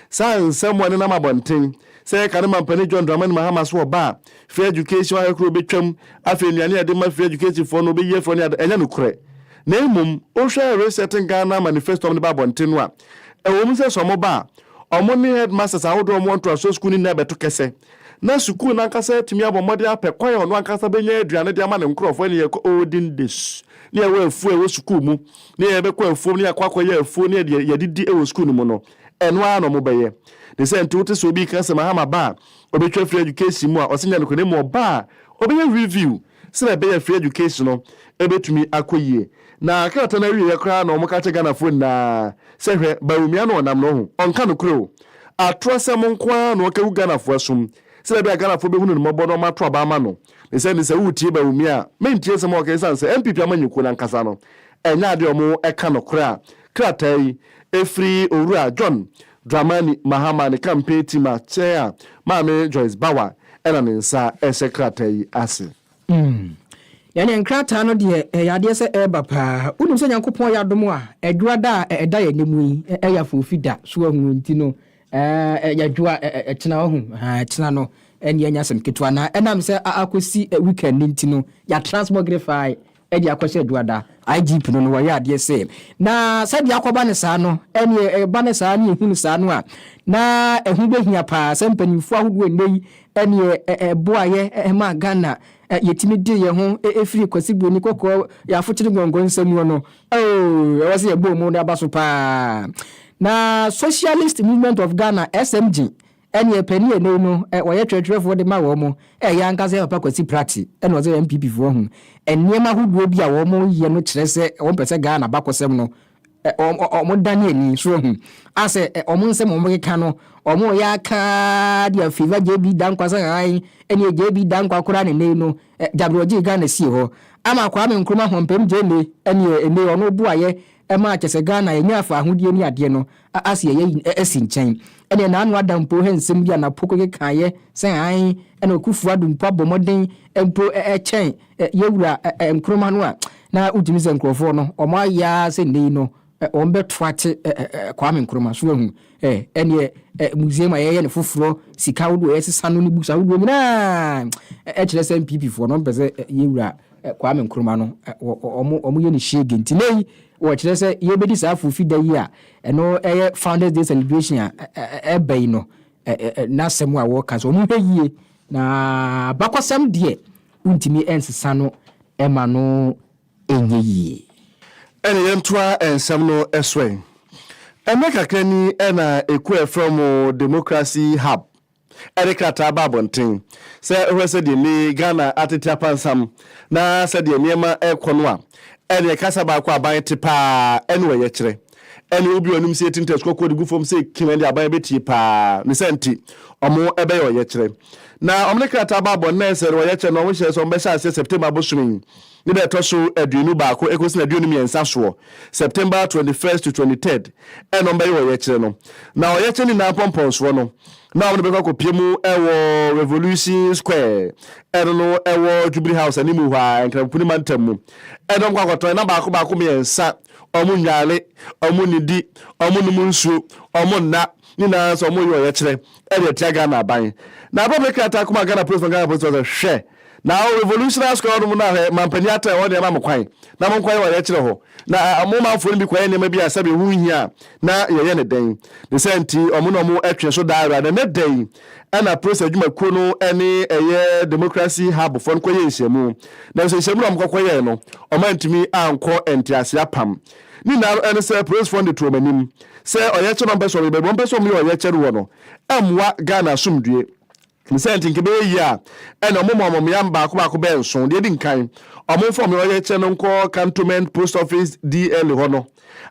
Speaker 2: saa nsɛm a ɛnenam abɔnten Sɛ yɛka no ma mpanin John Dramani Mahama so ɔba a, free education ahekoro bɛtwam, afei nnuane a yɛde ma free education foɔ no wɔbɛyi afiri hɔ ne ade, ɛnyɛ nokorɛ. Na mmom, wohwɛ Resetting Ghana manifesto a wɔde ba abɔnten no a, ɛwɔ mu sɛ sɛ wɔba a, wɔn ne headmasters ahodoɔ a wɔwɔ ntoasoɔ sukuu no nyinaa bɛto kɛsɛ, na sukuu no ankasa atumi abɔ mmɔden apɛ kwan a ɔno ankasa bɛnya aduane de ama ne nkorɔfoɔ ne yɛkɔ olden days ne yɛwɔ afuo a ɛwɔ sukuu mu ne yɛbɛkɔ afuom ne yɛakɔ akɔyɛ afuo ne yɛde yɛdidi wɔ sukuu no mu no. Ɛno ara na wɔbɛyɛ. Ne sɛ nte wote sɛ obi reka sɛ mahama ba a ɔbɛtwa afiri education mu a ɔse nyɛ nokorɛ na mmom ɔba a ɔbɛyɛ review sɛdeɛ ɛbɛyɛ afiri education no ɛbɛtumi akɔ yie. Na krataa no awieɛ koraa na wɔka kyerɛ Ghanafoɔ nyinaa sɛ hwɛ Bawumia no ɔnam no ho ɔnka nokorɛ o. Atorɔ asɛm nko ara na ɔka gu Ghanafoɔ asom sɛdeɛ ɛbɛyɛ a Ghanafoɔ bɛhunu no mmɔbɔ na wɔato aba ama no. Ne sɛ nte sɛ woretie Bawumia a mentie nsɛm a ɔka ɛsiane sɛ NPP amanyɔkuo no ankasa no ɛnyɛ adeɛ a wɔka nokorɛ a Krataa yi firi Owura John Dramani Mahama ne campaign team a Chair a Maame Joyce Bawa na ne nsa rehyɛ krataa yi ase. Mm.
Speaker 1: Yɛneɛ nkrataa no deɛ ɛyɛ adeɛ sɛ ɛreba paa. Wonim sɛ Nyankopɔn yɛ adom a, ɛdwoa da a ɛda yɛn anim yi, ɛyɛ afoofi da. So wahu nti no, ɛɛ, yɛdwoa ɛkyena, wahu, haa, ɛkyena no, ɛneɛ ɛnyɛ asɛm ketewa. Na ɛnam sɛ akɔsi weekend nti no, yɛatra ase bɔ gere faa de akɔ sɛ Aduada IGP no no wɔyɛ adeɛ sɛ na sɛdeɛ akɔba no saa no ɛneɛ ɛba no saa ne ɛhu no saa no a na ɛho bɛhia paa sɛ mpanimfoɔ ahodoɔ ɛnnɛ yi ɛneɛ ɛboayɛ ɛmaa Ghana yɛtumi de yɛ ho ɛfiri Kwasi Broni kɔkɔɔ yɛ afokyere gɔngɔn nsɛmuo no oo ɛwɔ sɛ yɛbɔ mu no aba so paa na Socialist Movement of Ghana SMG Ɛneɛ pɛ ne ɛnei no wɔyɛ twerɛtwerɛfoɔ de ma wɔn, ɛyɛ ankasa yɛ Papa Kwasi Prate na ɔsɛ NPP foɔ ho. Nneɛma ahodoɔ bi a wɔn yɛ no kyerɛ sɛ wɔn pɛ sɛ Ghana abakɔsɛm no wɔn dane ani, so wahu? Asɛ wɔn nsɛm a wɔn keka no wɔn reyɛ aka ara de a favour JB Dankwa sɛ hann, ɛneɛ JB Dankwa koraa ne ɛnei no gyabere ɔgyee Ghana sie hɔ ama Kwame Nkrumah Hompem Gyame ɛneɛ ɛnei ɔno boayɛ ma akyɛsɛ Ghana ɛnya faahodie ne adeɛ no A a seɛ yɛyi ɛ asi nkyɛn. Ɛneɛ naano ada mpo hɛ nsɛm bi a napo kekekaeɛ sɛ ae ɛna Ɔkufo Addo mpo abɔ mmɔden mpo ɛ ɛ kyɛn ɛ yɛwura ɛ ɛ Nkrumah no a na wotumi sɛ nkurɔfoɔ no wɔn ayɛ ara sɛ nnɛ yi no ɛ wɔn bɛto ate ɛ ɛ ɛ Kwame Nkrumah so wahu ɛ ɛneɛ ɛ museum a yɛyɛ no foforɔ sika ahodoɔ a yɛsesa no ne books ahodoɔ nyinaa ɛ ɛ kyerɛ sɛ NPP foɔ no wɔn pɛ sɛ ɛ yɛwura ɛ Kwame Nkrumah no wɔ wɔyɛ no hyiege nti nnɛ yi wɔkyerɛ sɛ yɛbɛdi saa Afofi da yi a ɛno yɛ Founders Day celebration a ɛba yi no n'asɛm a wɔka sɛ wɔn hwɛ yie na abakɔsɛm deɛ wontumi nsesa no ɛma no ɛnyɛ yie. Ɛne
Speaker 2: yɛntoa nsɛm no so ɛ. Ɛnnɛ kakra ni na ɛkuo a ɛfrɛ wɔn Democracy Hub ɛde krataa ba abɔnten sɛ ɔhwɛ sɛ deɛ ne Ghana atete apansam na sɛdeɛ nneɛma rekɔ no a, ɛneɛ kasa baako aban te paa ɛne ɔyɛkyerɛ ɛne obi ɔnim sɛ yɛtim test kɔkɔɔ de gu fam sɛ kim ɛne aban bɛtie paa ne sɛ nti ɔmo ɛbɛyɛ ɔyɛkyerɛ na ɔmo ne krataa ba abɔnten sɛ ɔyɛkyerɛ na ɔmo hyɛ sɛ ɔmo bɛhyɛ aseɛ September bosome yi Ne da a ɛtɔ so aduonu baako ekosi n'aduonu mmiɛnsa soɔ, September twenty first to twenty third, ɛna wɔn bɛyɛ ɔyɛkyerɛ no. Na ɔyɛkyerɛ no nyinaa mpɔmpɔnsoɔ no, na wɔn de bɛkɔ akɔpie mu ɛwɔ Revolution Square, ɛno no ɛwɔ Jubilee House animu hɔ ara, Nkramopo ne Mantam mu, ɛna wɔn kɔ akɔtɔn ɛna baako baako mmiɛnsa, wɔn nnware, wɔn nnidi, wɔn nnom nsuo, wɔn nna, ne nyinaa nso wɔn reyɛ ɔyɛkyerɛ ɛde atia Ghana aban. Na abɛbɛ krataa kɔmaa Ghana Polisfoɔ no, Ghana Polisfoɔ sɛ, Hwɛ! Na o Revolutionary Square hɔnom no a hwɛ, mampanin Atta a ɛhɔ deɛ ɛma mo kwan na monkɔyɛ ɔyɛkyerɛ hɔ. Na a mo manfoɔ no bi kɔyɛ nneɛma bi a sɛbe ɛho nhia a na yɛyɛ no dɛn? Ne saa nti wɔn na wɔn twe so daa ara. Na ɛnnɛ da yi ɛna Press adwumakuo no ne ɛyɛ Democracy Hub foɔ no kɔyɛɛ nhyiamu. Nanso nhyiamu no a wɔkɔkɔyɛɛ no wɔantumi ankɔ nteaseɛ apam. Ne nyinaa no ɛne sɛ Press foɔ no de to wɔn anim sɛ ɔyɛkyɛ no a wɔpɛ sɛ wɔyɛ baabi a wɔpɛ sɛ wɔyɛ ɔyɛkyɛ no wɔ no ɛmmoa Ghana asomdwoeɛ Ne sɛ nti nka ɛbɛyɛ yie a ɛnna wɔmma wɔn mmeamm baako baako bɛyɛ nson. Deɛ ɛdi nkan, wɔmfa wɔn ɔyɛkyerɛ no nkɔ Cantonment Post Office DL hɔ no,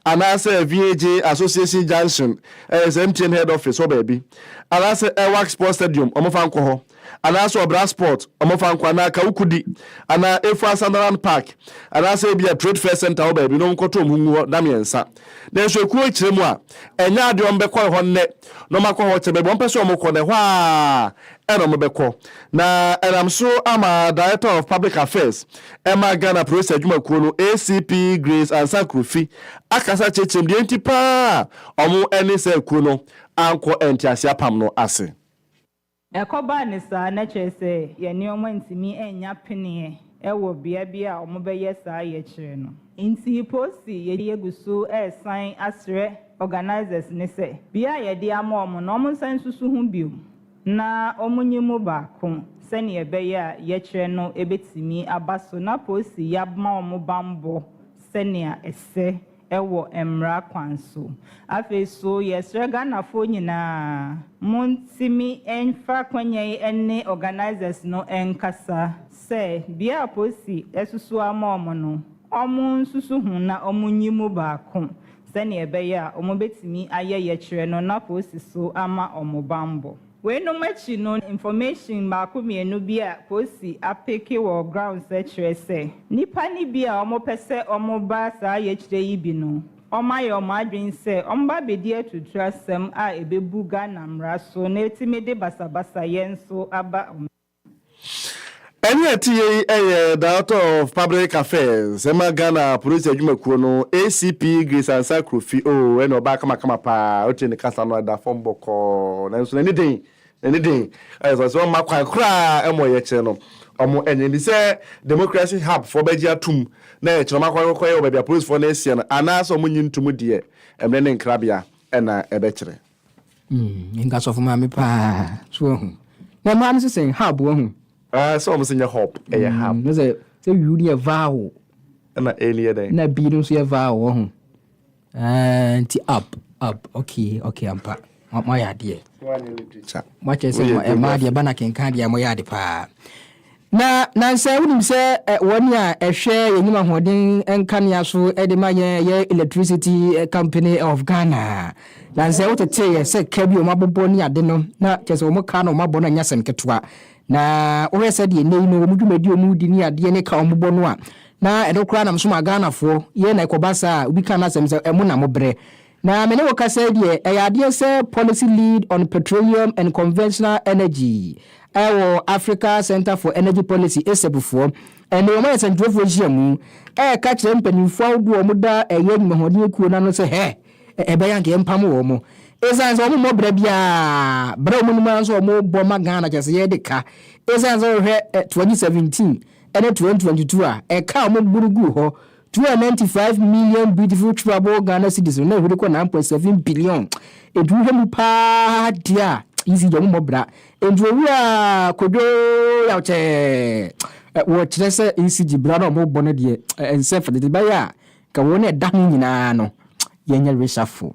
Speaker 2: anaasɛ VAJ Association Junction, ɛyɛ sɛ MTN Head Office hɔ baabi, anaasɛ Ewak Sports Stadium, wɔmfa nkɔ hɔ, anaasɛ Obra Sport, wɔmfa nkɔ, anaa Kawukudi, anaa Efua Sanderland Park, anaasɛ ebia Trade Fair Centre hɔ baabi na wɔnkɔto wɔn ho ngu hɔ da mmiɛnsa. Nanso ekuo rekyerɛ mu a, ɛnyɛ adeɛ a wɔbɛkɔre hɔ nnɛ na wɔakɔ hɔ kyɛ. Baabi a wɔpɛ sɛ wɔkɔ no, ɛhɔ ara na wɔbɛkɔ. Na ɛnam so ama Director of Public Affairs ma Ghana Polisi Adwumakuo no, ACP Grace Ansah Krofi, akasa akyerɛkyerɛ mu deɛ enti pa ara a wɔne saa ekuo no ankɔ nteaseɛ apam no ase. Ɛkɔbaa
Speaker 10: no saa, na kyerɛ sɛ yɛn nneɛma ntumi nnya peneɛ wɔ bea bi a wɔbɛyɛ saa yɛkyerɛ no. Enti posi yɛgu so resan asrɛ organisers no sɛ, bea a yɛde ama wɔn no, wɔnsan nsusu ho bio na wɔnyi mu baako sɛnea ɛbɛyɛ a yɛkyerɛ no bɛtumi aba so na posi yɛama wɔn bammɔ sɛnea ɛsɛ. wɔ mmara kwan so. Afei so yɛsrɛ Ghanafoɔ nyinaa montimi mfa akwanya yi ne organisers no nkasa sɛ bia aposi asusu ama wɔn no wɔn nsusu ho na wɔn nyi mu baako sɛdeɛ ɛbɛyɛ a wɔbɛtumi ayɛ yɛkyerɛ no na aposi so ama wɔn banbɔ. Weinom akyi no information baako mmienu bi a Kosi apeke wɔ ground sɛ kyerɛ sɛ nnipa no bi a wɔn pɛ sɛ wɔn ba saa yɛkyerɛ yi bi no wɔn ayɛ wɔn adwene sɛ wɔn ba bɛdi atuutu asɛm a ɛbɛbu Ghana mmara so na ɛtumi de basabasayɛ nso aba wɔn
Speaker 2: Ɛne ɛteyɛ yi yɛ Director of Public Affairs ɛma Ghana Polisi Adwumakuo no, ACP Grace Ansah Krofi. Oh, ɛne ɔbaa kamakama paa, wotie ne kasa no ɛda fam bɔkɔɔ, nanso n'ani den, n'ani den, ayɛ sɛ ɔsɛ ɔmma kwan koraa ɛma ɔyɛkyerɛ no. Ɔmo ɛnyɛ nni sɛ Democracy Hub foɔ bɛgye atum na ɛkyerɛ ɔmo akɔkɔyɛ wɔ baabi a Polisifoɔ no asia no, anaasɛ ɔmo nyi ntum deɛ, ɛmmerɛ ne nkrabea na ɛbɛkyerɛ. Mm,
Speaker 1: nka sɔfo maame paa. So wahu. Na mmaa no sesɛ hub wahu. Ah, sɛ wɔn sɛ nyɛ
Speaker 2: hub, ɛyɛ mm, hub. Na sɛ sɛ wiu no
Speaker 1: yɛ vowel. Ɛna A no
Speaker 2: yɛ dɛn? Na B no nso yɛ vowel
Speaker 1: wahu. Ah, nti up, up, okay, okay ampa. Mo ayɛ adeɛ. Mo akyɛ sɛ mo ɛmaa deɛ ba na kenkan deɛ mo yɛ ade paa. Na nansɛ wonim sɛ wɔn a ɛhwɛ yɛnim ahoɔden nkanea so de ma yɛn ɛyɛ electricity company of Ghana nansɛ woteteeɛ sɛ ka bi wɔn abobɔ ne ade no na kyerɛ sɛ wɔn ka no wɔn abɔ no ɛnyɛ asɛm ketewa na wohwɛ sɛ deɛ nnɛ yi no wɔn dwumadi wɔn di ne adeɛ ne ka wɔn bobɔ no a na ɛno koraa nam so ma Ghanafoɔ yɛ na ɛkɔba saa a obi ka no asɛm sɛ ɛmo na mo brɛ Na me ne wo kasa yi deɛ, ɛyɛ adeɛ sɛ Policy Lead on Petroleum and Conventional Energy wɔ Africa Centre for Energy Policy, ACEP, foɔ ne wɔn ayɛ sɛnkyerɛwfoɔ nhyiamu reka kyerɛ mpanimfoɔ ahodoɔ a wɔda ɛyɛ nnwumahoɔden akuo no ano sɛ hɛ, ɛbɛyɛ a anka yɛmpam wɔn. Ɛsiane sɛ wɔmmɔ bra biara, bra a wɔn nim ara nso a wɔbɔ ma Ghana kyerɛ sɛ yɛde ka, ɛsiane sɛ wohwɛ 2017 ne 2022 a, ɛka a wɔboro guu hɔ, Two hundred and ninety five million beautiful chewable Ghana cedis no na ɛhuri kɔ nine point seven billion ɛduru hwɛ mu paa deɛ a ECG ɔmo mmɔ bra nti owura Kwadwo Yawkyɛɛ wɔ kyerɛ sɛ ECG bra no a ɔmo bɔ no deɛ ɛnsɛ fɛdɛ deɛ ɛbɛyɛ a nka wɔn a ɛda ho nyinaa no yɛnyɛ reshuffle.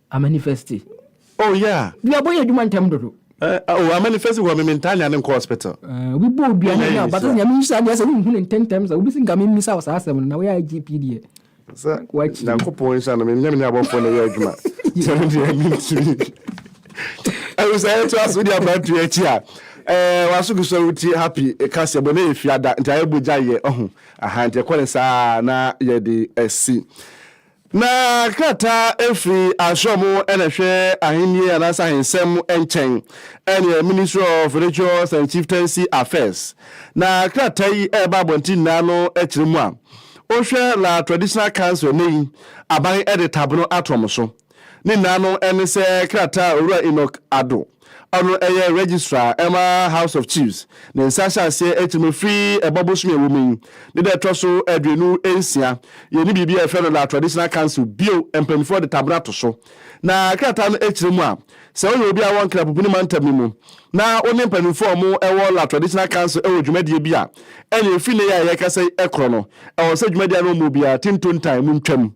Speaker 2: Amanifesti.
Speaker 1: Oh yeah.
Speaker 2: Duabɔ yɛ adwuma ntɛm
Speaker 1: dodo. Eh oh amanifesti
Speaker 2: wɔ me me ntaa nyaa no nkɔ hospital. Eh obi bɔ odua ho nya
Speaker 1: ɔba sɛ Nyame nhyira deɛ sɛ wo nhu no ntɛntɛm sa obi sɛ nka me mmisa wo saa asɛm no na wo yɛ IGP deɛ. Sɛ
Speaker 2: Nyankopɔn nhyira no me nyɛ me ne abɔfoɔ na yɛ adwuma. Sɛ me deɛ me ntumi. Ɛwu sɛ yɛ to aso di abrantu yɛ akyi a. Eh waso gu so wuti happy ɛka sɛ bɔ ne yɛ fiada nti ayɛ bɔ gya yɛ ɔho. Aha nti ɛkɔ ne saa na yɛ de ɛsi. Na krataa firi Asram a na ɛhwɛ Ahenni anaasɛ Ahensɛm nkyɛn, ɛneɛ Ministry of Religious and Chieftaincy Affairs, na krataa yi reba abɔnten nyinaa no kyerɛ mu a, wohwɛ La Traditional Council ɛnnɛ yi, aban de tabeno ato wɔn so. Ne nyinaa no ne sɛ krataa a Owura Enoch Addo. Ɔno yɛ Registrar ma House of Chiefs. Ne nsa hyɛ aseɛ atirimu firi Ɛbɔ bosome a ɛwɔ mu yi ne da a ɛtɔ so aduonu nsia. Yɛnni biribi a yɛfrɛ no La Traditional Council bio, mpanimfoɔ de tabena to so. Na krataa no kyerɛ mu a, sɛ woyɛ obi a wowɔ Nkrapubuni mantam no mu na wo ne mpanimfoɔ a wɔwɔ La Traditional Council wɔ dwumadie bi a, ɛneɛ ɛfiri nnɛ yi a yɛrekasa yi korɔ no, ɛwɔ sɛ dwumadie a na wɔmmɔ biara, Tintontan, montwam.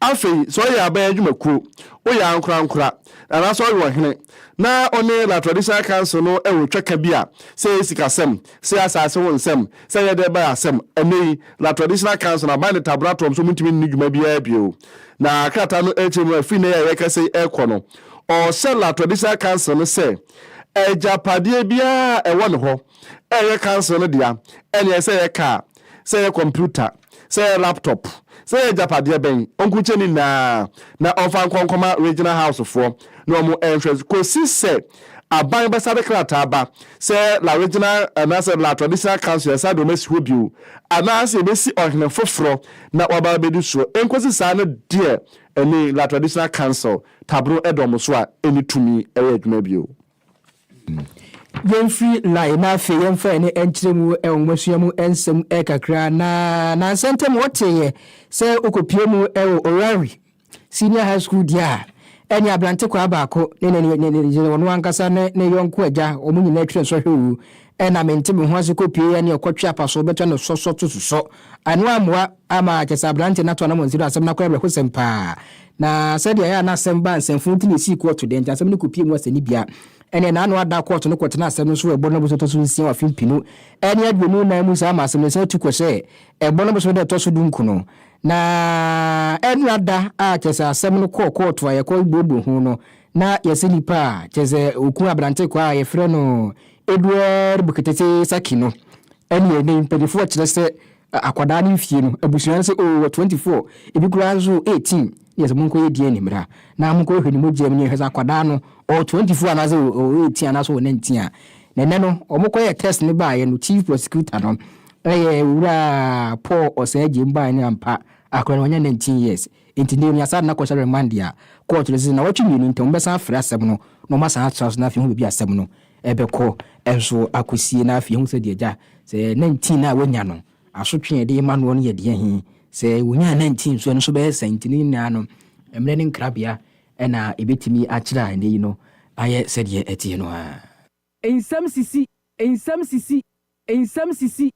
Speaker 2: Afei, sɛ woyɛ aban adwumakuo, woyɛ ankorankora, anaasɛ ɔyɛ ɔhene, na ɔne La Traditional Council no wɔ twaka bi a, sɛ ɛyɛ sikasɛm, sɛ ɛyɛ asase ho nsɛm, sɛ ɛyɛ dɛn ba asɛm, ɛnnɛ yi, La Traditional Council no, aban de taboro ato wɔn so, wɔntumi nni dwuma biara bio. Na krataa no kyerɛ mu a, firi nnɛ yi a yɛrekasa yi rekɔ no, ɔhyɛ La Traditional Council no sɛ, agyapadeɛ biara a ɛwɔ ne hɔ a ɛyɛ Council no dea, ɛnneɛ ɛsɛ sɛ yɛka a, sɛ ɛyɛ kɔmputa, sɛ ɛyɛ laptop, sɛ ɛyɛ agyapadeɛ bɛn, ɔnkukyɛ ne nyinaa na ɔmfa nkɔ nkɔma Regional House foɔ na wɔn nhwɛ kɔsi sɛ aban bɛsa de krataa ba sɛ La Regional anaasɛ La Traditional Council yɛsa de wɔn asi hɔ bio anaasɛ yɛbɛsi ɔhene foforɔ na waba abɛdi soɔ. Ɛnkɔsi saa no deɛ ɛne La Traditional Council Tabron da wɔn so a ɛnni tumi yɛ adwuma bio. Yɛmfiri
Speaker 1: line na afei yɛmfa yɛn ani nkyerɛ mu nwomasua mu nsɛm kakra na nansa ntam wɔteeɛ sɛ wokɔpie mu wɔ Orari Senior High School deɛ a ɛne aberante kwaa baako ne ne ne ne ɔno ankasa ne ne yɔnko agya wɔn nyinaa twerɛ nsɔhwɛ o Ɛna mente me ho ase kɔpue yɛ ne ɔkɔtwe apaso bɛtɔ no sɔsɔ to susɔ. Ɛno ammoa amma kyɛ sɛ aberante no ato anamɔnsi no asɛm no akɔ awerɛhosɛm paa. Na sɛdeɛ ɛyɛ a na asɛm baa nsɛmfo nti na ɛsii kɔɔto deɛ nti asɛm no kɔpue mu asɛnnibea. Ɛneɛ n'ano ada kɔɔto no kɔtenaa asɛm no so wɔ ɛbɔ no bosome ɛtɔ so nsia wɔ afe mpenu ne aduonu nan mu saa ma asɛm no ɛsan tu kɔ sɛ ɛbɔ no bosome da ɛtɔ so dunkono. Na ɛna da a kyɛ sɛ asɛm no kɔɔ kɔɔto a yɛkɔ buobuo ho no na yɛse nipa a kyɛ sɛ ɔku aberante kwaa a yɛfrɛ no Edward Bukitese Saki no ɛne ɛnɛ mpanyinfoɔ ɛkyerɛ sɛ akwadaa no mfie no abusua no sɛ oo wɔ 24 ebi koraa nso wɔ 18 yɛ sɛ monkɔ yɛ DNA mmra na monkɔ yɛ hwɛ ne mogya mu ne yɛhwɛ sɛ akwadaa no ɔwɔ 24 anaasɛ ɔwɔ 18 anaasɛ ɔwɔ 19 a na ɛnɛ no wɔn kɔ yɛ test no baayɛ no chief prosecutor no ɛyɛ owura Paul Osei Agyem baayɛ no ampa akwadaa no wɔnyɛ 19 years Enti Naomi asan na kɔhyɛ Rema dea kɔɔ akyiri sɛ nnawɔtwe mmienu ntam wɔbɛsan afrɛ asɛm no na wɔasan atra so na afei ahu baabi a asɛm no rebɛkɔ nso akɔsie na afei ahu sɛ deɛ agya sɛ 19 a wanya no asotwe a ɛde rema noɔ no yɛ deɛ he. Sɛ wɔnyaa 19 nso a ɛno nso bɛyɛ sɛn? Nti ne nyinaa no mmerɛ ne nkrabea na ɛbɛtumi akyerɛ a nnɛ yi no ayɛ sɛdeɛ ɛteɛ no ara. Nsɛm
Speaker 11: sisi, nsɛm sisi, nsɛm sisi.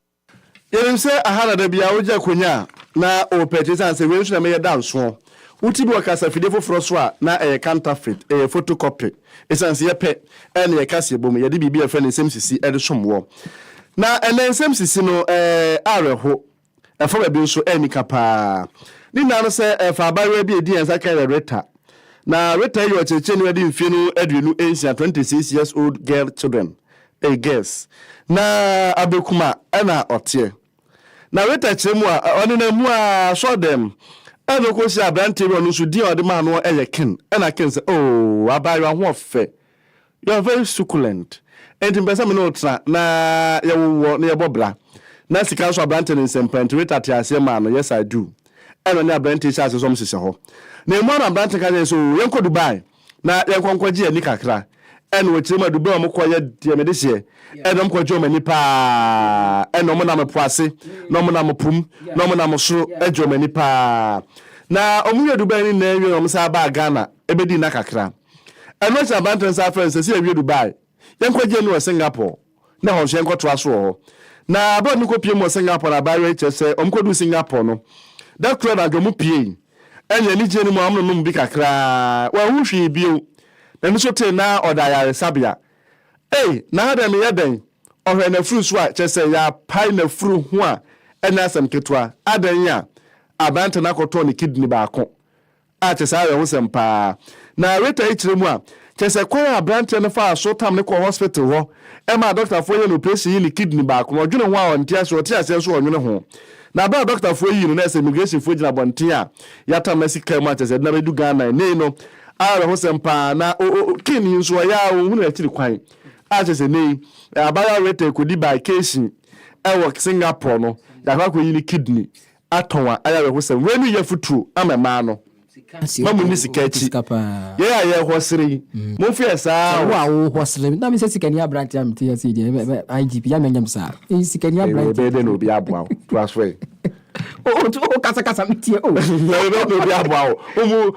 Speaker 2: Yɛnim sɛ aha na da biara wogye akonya a na wopɛ nti esiane sɛ wei nso na meyɛ da nsoɔ wo ti bi wɔ kasafidie foforɔ so a na ɛyɛ counterfeit, ɛyɛ photocopy. Esiane sɛ yɛpɛ na yɛ kaseɛ bom yɛde biribi a yɛfrɛ no nsɛm sisi de som woɔ. Na ɛnnɛ nsɛm sisi no ɛyɛ awerɛho Ɛfa baabi nso, ɛyɛ anika paa. Ne nyinaa no sɛ ɛfa abaayewa bi a edi yɛn nsa kan yɛ Rita. Na Rita yi yɛ ɔkyerɛkyerɛni a ɔde mfie no aduonu nsia, twenty six years old girl children, ei girls. Na Abekuma na ɔteɛ. Na Rita kyerɛ mu a, ɔnenam mu ara sɔɔ dɛm na ɔkɔhyiaa aberanteɛ bi a ɔno nso din a ɔde maa no yɛ Ken. Ɛna Ken sɛ, Oo, abaayewa ho ɔfɛ. You are very succulent enti mepɛ sɛ me ne wo tena na yɛwowɔ na yɛbɔ bra. Ná sika nso aberante no nsam paa nti Rita tee aseɛ maa no yes I do. Ɛnna ɔne aberante yi hyɛɛ aseɛ sɛ wɔhyehyɛ hɔ. Na emu a na aberante no ka kyerɛ no sɛ oo yɛnkɔ Dubai na yɛnkɔ nkɔgye ani kakra. Ɛnna wɔkyerɛ mu a Dubai a wɔkɔɔ yɛ deɛ mede hyeɛ. Ɛnna wɔkɔgye wɔn ani paa. Ɛnna wɔnam po ase na wɔnam po mu na wɔnam soro gye wɔn ani paa. Na wɔyɛɛ Dubai no nyinaa wie na wɔsan baa Ghana bɛdii nna kakra. Ɛno akyi na aberanteɛ no san frɛɛ no sɛ, sɛ yɛwie Dubai, yɛnkɔgye no wɔ Singapore na ɛhɔ nso yɛnkɔtoa so wɔ hɔ. Na berɛ a wɔkɔpiem wɔ Singapore no, abaayewa yi kyerɛ sɛ wɔkɔduu Singapore no, da koro anadwo wɔpuei. Ɛnna anigyeɛ no mu a wɔnonom bi kakra ara, wanhu hwee bio. N'ani so tee na ɔda ayaresabea. Ei, na ha deɛ meyɛ dɛn? Ɔhwɛɛ n'afuru so a, kyerɛ sɛ yɛapae n'afuru ho a ɛnyɛ asɛm ketewa. Adɛn a aberanteɛ no akɔtɔn ne kidini baako A, kyɛ saa awerɛhosɛm paa! Na Rita yi kyerɛ mu a, kyerɛ sɛ kwan a abranteɛ no faa so tam no kɔɔ hospital hɔ maa dɔktafoɔ yɛɛ no operation yii ne kidney baako no, ɔdwene ho a ɔnte aseɛ, ɔte aseɛ nso a ɔnwene ho. Na berɛ a dɔktafoɔ yii no na ɛsɛ immigrationfoɔ gyina abɔnten a yɛatam no asi car mu a kyerɛ sɛ yɛde no abɛdu Ghana ɛnnɛ yi no, a, awerɛhosɛm paa! Na o, o, o, King yi nso ɔyɛ ara ɔnhunu akyiri kwan, a, kyerɛ sɛ ɛnnɛ yi, ɛ, abaayewa Rita ɛkɔdi baakeehyin wɔ Singapore no, yɛakɔ akɔyi ne kidney, atɔn a ayɛ awerɛhosɛm. Wei no yɛ futuro ama mmaa no. Mma munni sika akyi. Yɛn a yɛrehɔsere yi, momfa yɛ saa ara o. Sɛ wo a worehɔsere, na
Speaker 1: mesɛ sikani aberanteɛ a mete ase yi deɛ, IGP, yɛ a mɛnyɛ me saa. Eyi sikani aberanteɛ. Ɛbɛyɛ dɛn na obi aboa wo?
Speaker 2: Toa so ɛ. O, o,
Speaker 1: o, kasakasa, metie o. Ɛbɛyɛ dɛn na obi aboa
Speaker 2: wo?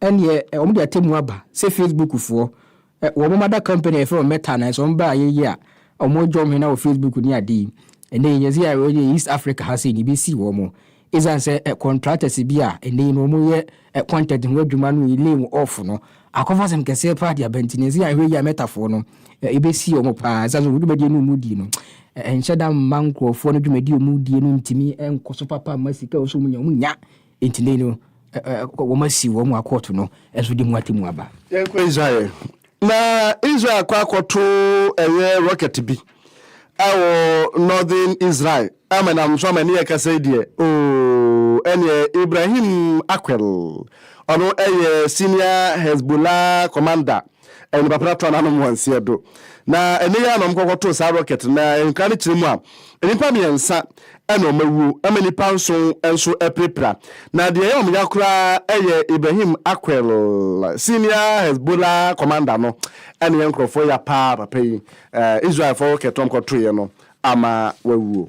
Speaker 1: Ɛneɛ wɔn de atɛmmuo aba sɛ Facebook foɔ wɔn moma da company a yɛfrɛ wɔn Meta no sɛ wɔn ba ayɛ yie a wɔn dwa wɔn hwene wɔ Facebook ne ade yi ɛnɛ yi nyɛ sɛ yɛ yɛ East Africa ha sei na ebi sii wɔn ɛsiane sɛ contractors bi a ɛnɛ yi no wɔn yɛ content ho adwuma no yi lay wɔn off no akɔfa asɛm kɛseɛ paa de aba nti na ɛsɛ yɛahwɛ yie a Meta foɔ no ebi sii wɔn paa ɛsiane sɛ wɔn dwumadie no wɔn di no ɛnhyɛ da mma nkurɔfoɔ no dwumadie wɔn die no ntumi nkɔ so papa mma sika wɔn so wɔn nya wɔn nya Enti nnɛ yi no, ɛ-ɛ-ɛ, wɔasiw wɔn akɔɔto no nso de mu atemmu aba. Yɛnkɔ Israel ɛ.
Speaker 2: Na Israel akɔ akɔto ɛyɛ rocket bi ɛwɔ Northern Israel. Ama nam so ama ne yɛ kasa yi deɛ, oo, ɛneɛ Ibrahim Akwel, ɔno ɛyɛ Senior Hezbollah Commander Ɛyɛ nnipa pɛ na tɔɔ n'anom wɔ nseɛ do. Na ɛnnɛ yi ara na wɔkɔkɔ too saa rocket no, na nkra no kyerɛ mu a, nnipa mmiɛnsa na wɔn awuo, ɛma nnipa nson nso apirapira. Na deɛ ɛyɛ wɔn ya koraa yɛ Ibrahim Acquel, senior Hezbollah commander no na ɛyɛ nkorɔfoɔ ya paa papa yi. Israelfoɔ rocket a wɔkɔtoeɛ no ama wawuo.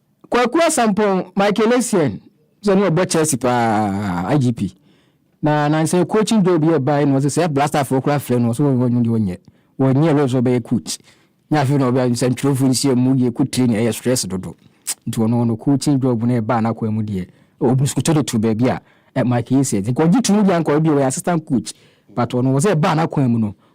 Speaker 1: Kwaku Asampong Michael Essien sɛ no ɔbɔ Chelsea paa IGP na nansɛ coaching job yɛ bae no ɔsɛ sɛ blaster fo kora frɛ no ɔsɛ wɔnyɛ deɛ ɔnyɛ wɔnyɛ rose ɔbɛyɛ coach nyɛ afei na ɔbɛ nsɛntwerɛfo nhyia mu yɛ kɔ training ɛyɛ stress dodo nti ɔno ɔno coaching job no ɛbaa n'akwan mu deɛ ɔbusukutɔ de to baabi a Michael Essien nti nkɔgye to mu deɛ anka ɔbɛ bi ɔyɛ assistant coach but ɔno ɔsɛ ɛbaa n'akwan mu no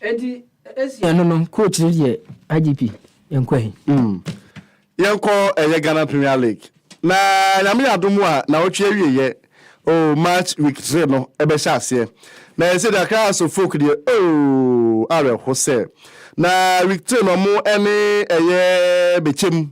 Speaker 12: Eti
Speaker 1: esia no no coach no yɛ IGP Nkwahi. Mm. Yɛnkɔ
Speaker 2: ɛyɛ Ghana Premier League na nyame yɛ adom a nawɔtwe awieyɛ o oh, match week 3 no ɛbɛhyɛ aseɛ na ɛsɛ de Accra House of Folk deɛ o oh, awerɛho sɛ na week 3 no ɔmo ɛne ɛyɛ bɛkyɛm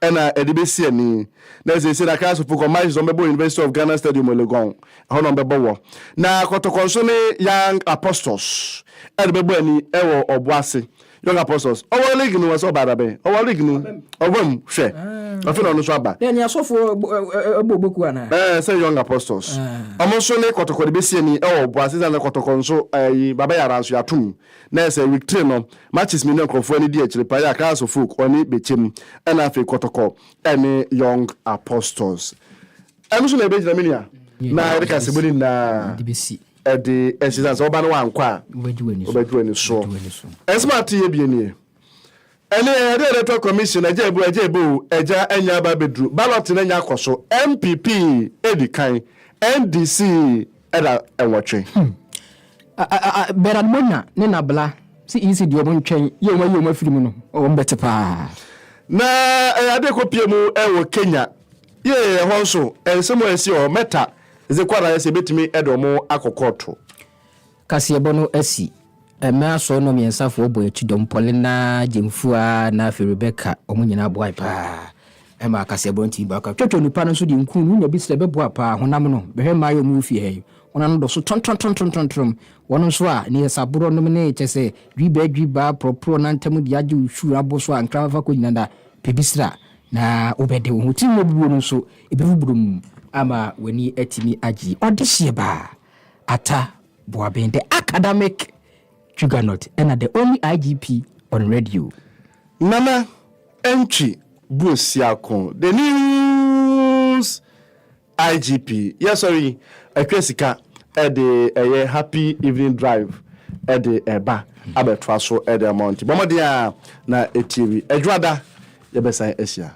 Speaker 2: na ɛde bɛsi ani. Na seesei na Christfo kɔ matches a wɔbɛbɔ wɔ University of Ghana Stadium wɔ Legon, ɛhɔ na wɔbɛbɔ wɔ. Na Kɔtɔkɔ nso ne Young Apostles ɛde bɛbɔ ani wɔ Ɔboase. Young Apostles, ɔwɔ league no sɛ ɔbaa dabɛn? Ɔwɔ league no, ɔba mu, hwɛ. Afei na ɔno nso aba. Ɛne asɔfo
Speaker 1: ɛbɔ boku anaa? Ɛɛ, sɛ Young Apostles.
Speaker 2: Wɔn nso ne Kɔtɔkɔ de bɛsi ani wɔ Ɔboase, sɛ na Kɔtɔkɔ nso ɛyi, Baba Yara nso yɛato mu. Na ɛsɛ week three no, matches mmienu a nkurɔfoɔ ani di akyire paa yɛ Accra Suffolk ɔne Bekyem ɛna afei Kɔtɔkɔ ɛne Young Apostles. Ɛno nso na yɛbɛgyina me nua na yɛde kaseɛbɔ no nyinaa ɛde
Speaker 1: asi
Speaker 2: sane sɛ woba no wankɔ a wobɛgye w'ani soɔ. Nsɛm a ateeɛ bie nie. Ɛne ɛyɛde electoral commission agya ebo agya ebo o agya anya aba abɛduru ballot no anya akɔ so NPP edi kan NDC ɛda nwɔtwe. Hmm. Bernard
Speaker 1: Monya ne Nabla se EC deɛ ɔmo ntwɛn yɛ ɔmo ayi ɔmo afiri mu no ɔmo bɛte paa. Na
Speaker 2: ɛyɛ ade ɛkɔ pie mu ɛwɔ Kenya yee ɛhɔ nso nsɛm a ɛsi hɔ mɛta dze kɔ anayɛ sɛ ebetumi ɛde ɔmo akɔ kɔɔto. Kaseɛbɔ
Speaker 1: no asi mmɛ asoɔ no mmiɛnsa foɔ bɔ akyi dɔm Paulina, Gyemfua na afei Rebecca ɔmo nyinaa boae paa ɛmaa kaseɛbɔ no tumi baa kɔ Twatwa onipa no nso deɛ nkuu no nya bi srɛ bɛboa paa Honam no bɛhwɛ mmaa yi ɔmo wɔ fie ha yi honam no dɔso tɔntɔntɔntɔntɔntrom wɔn nso a ne yɛ saborɔ nom ne kyɛsɛ dwibaa dwibaa porɔporɔ nantam deɛ agye wo sure abo so a nkrama fa kɔ nyina da pɛ bi sra na wo bɛde wo ho tirim abubuo no nso ɛbɛfu burum ama w'ani atumi agye ɔdehyeɛ baa. Atta Boaben, the academic juggernaut na the only IGP on radio. Nana
Speaker 2: Antwi Boasiako, the news IGP. Yɛsɔre yi, atwa sika de ɛyɛ happy evening drive de ɛba abɛtoa so de ama nti bɔ mmɔden a na ɛtie wi. Adwoada yɛbɛsan ahyia.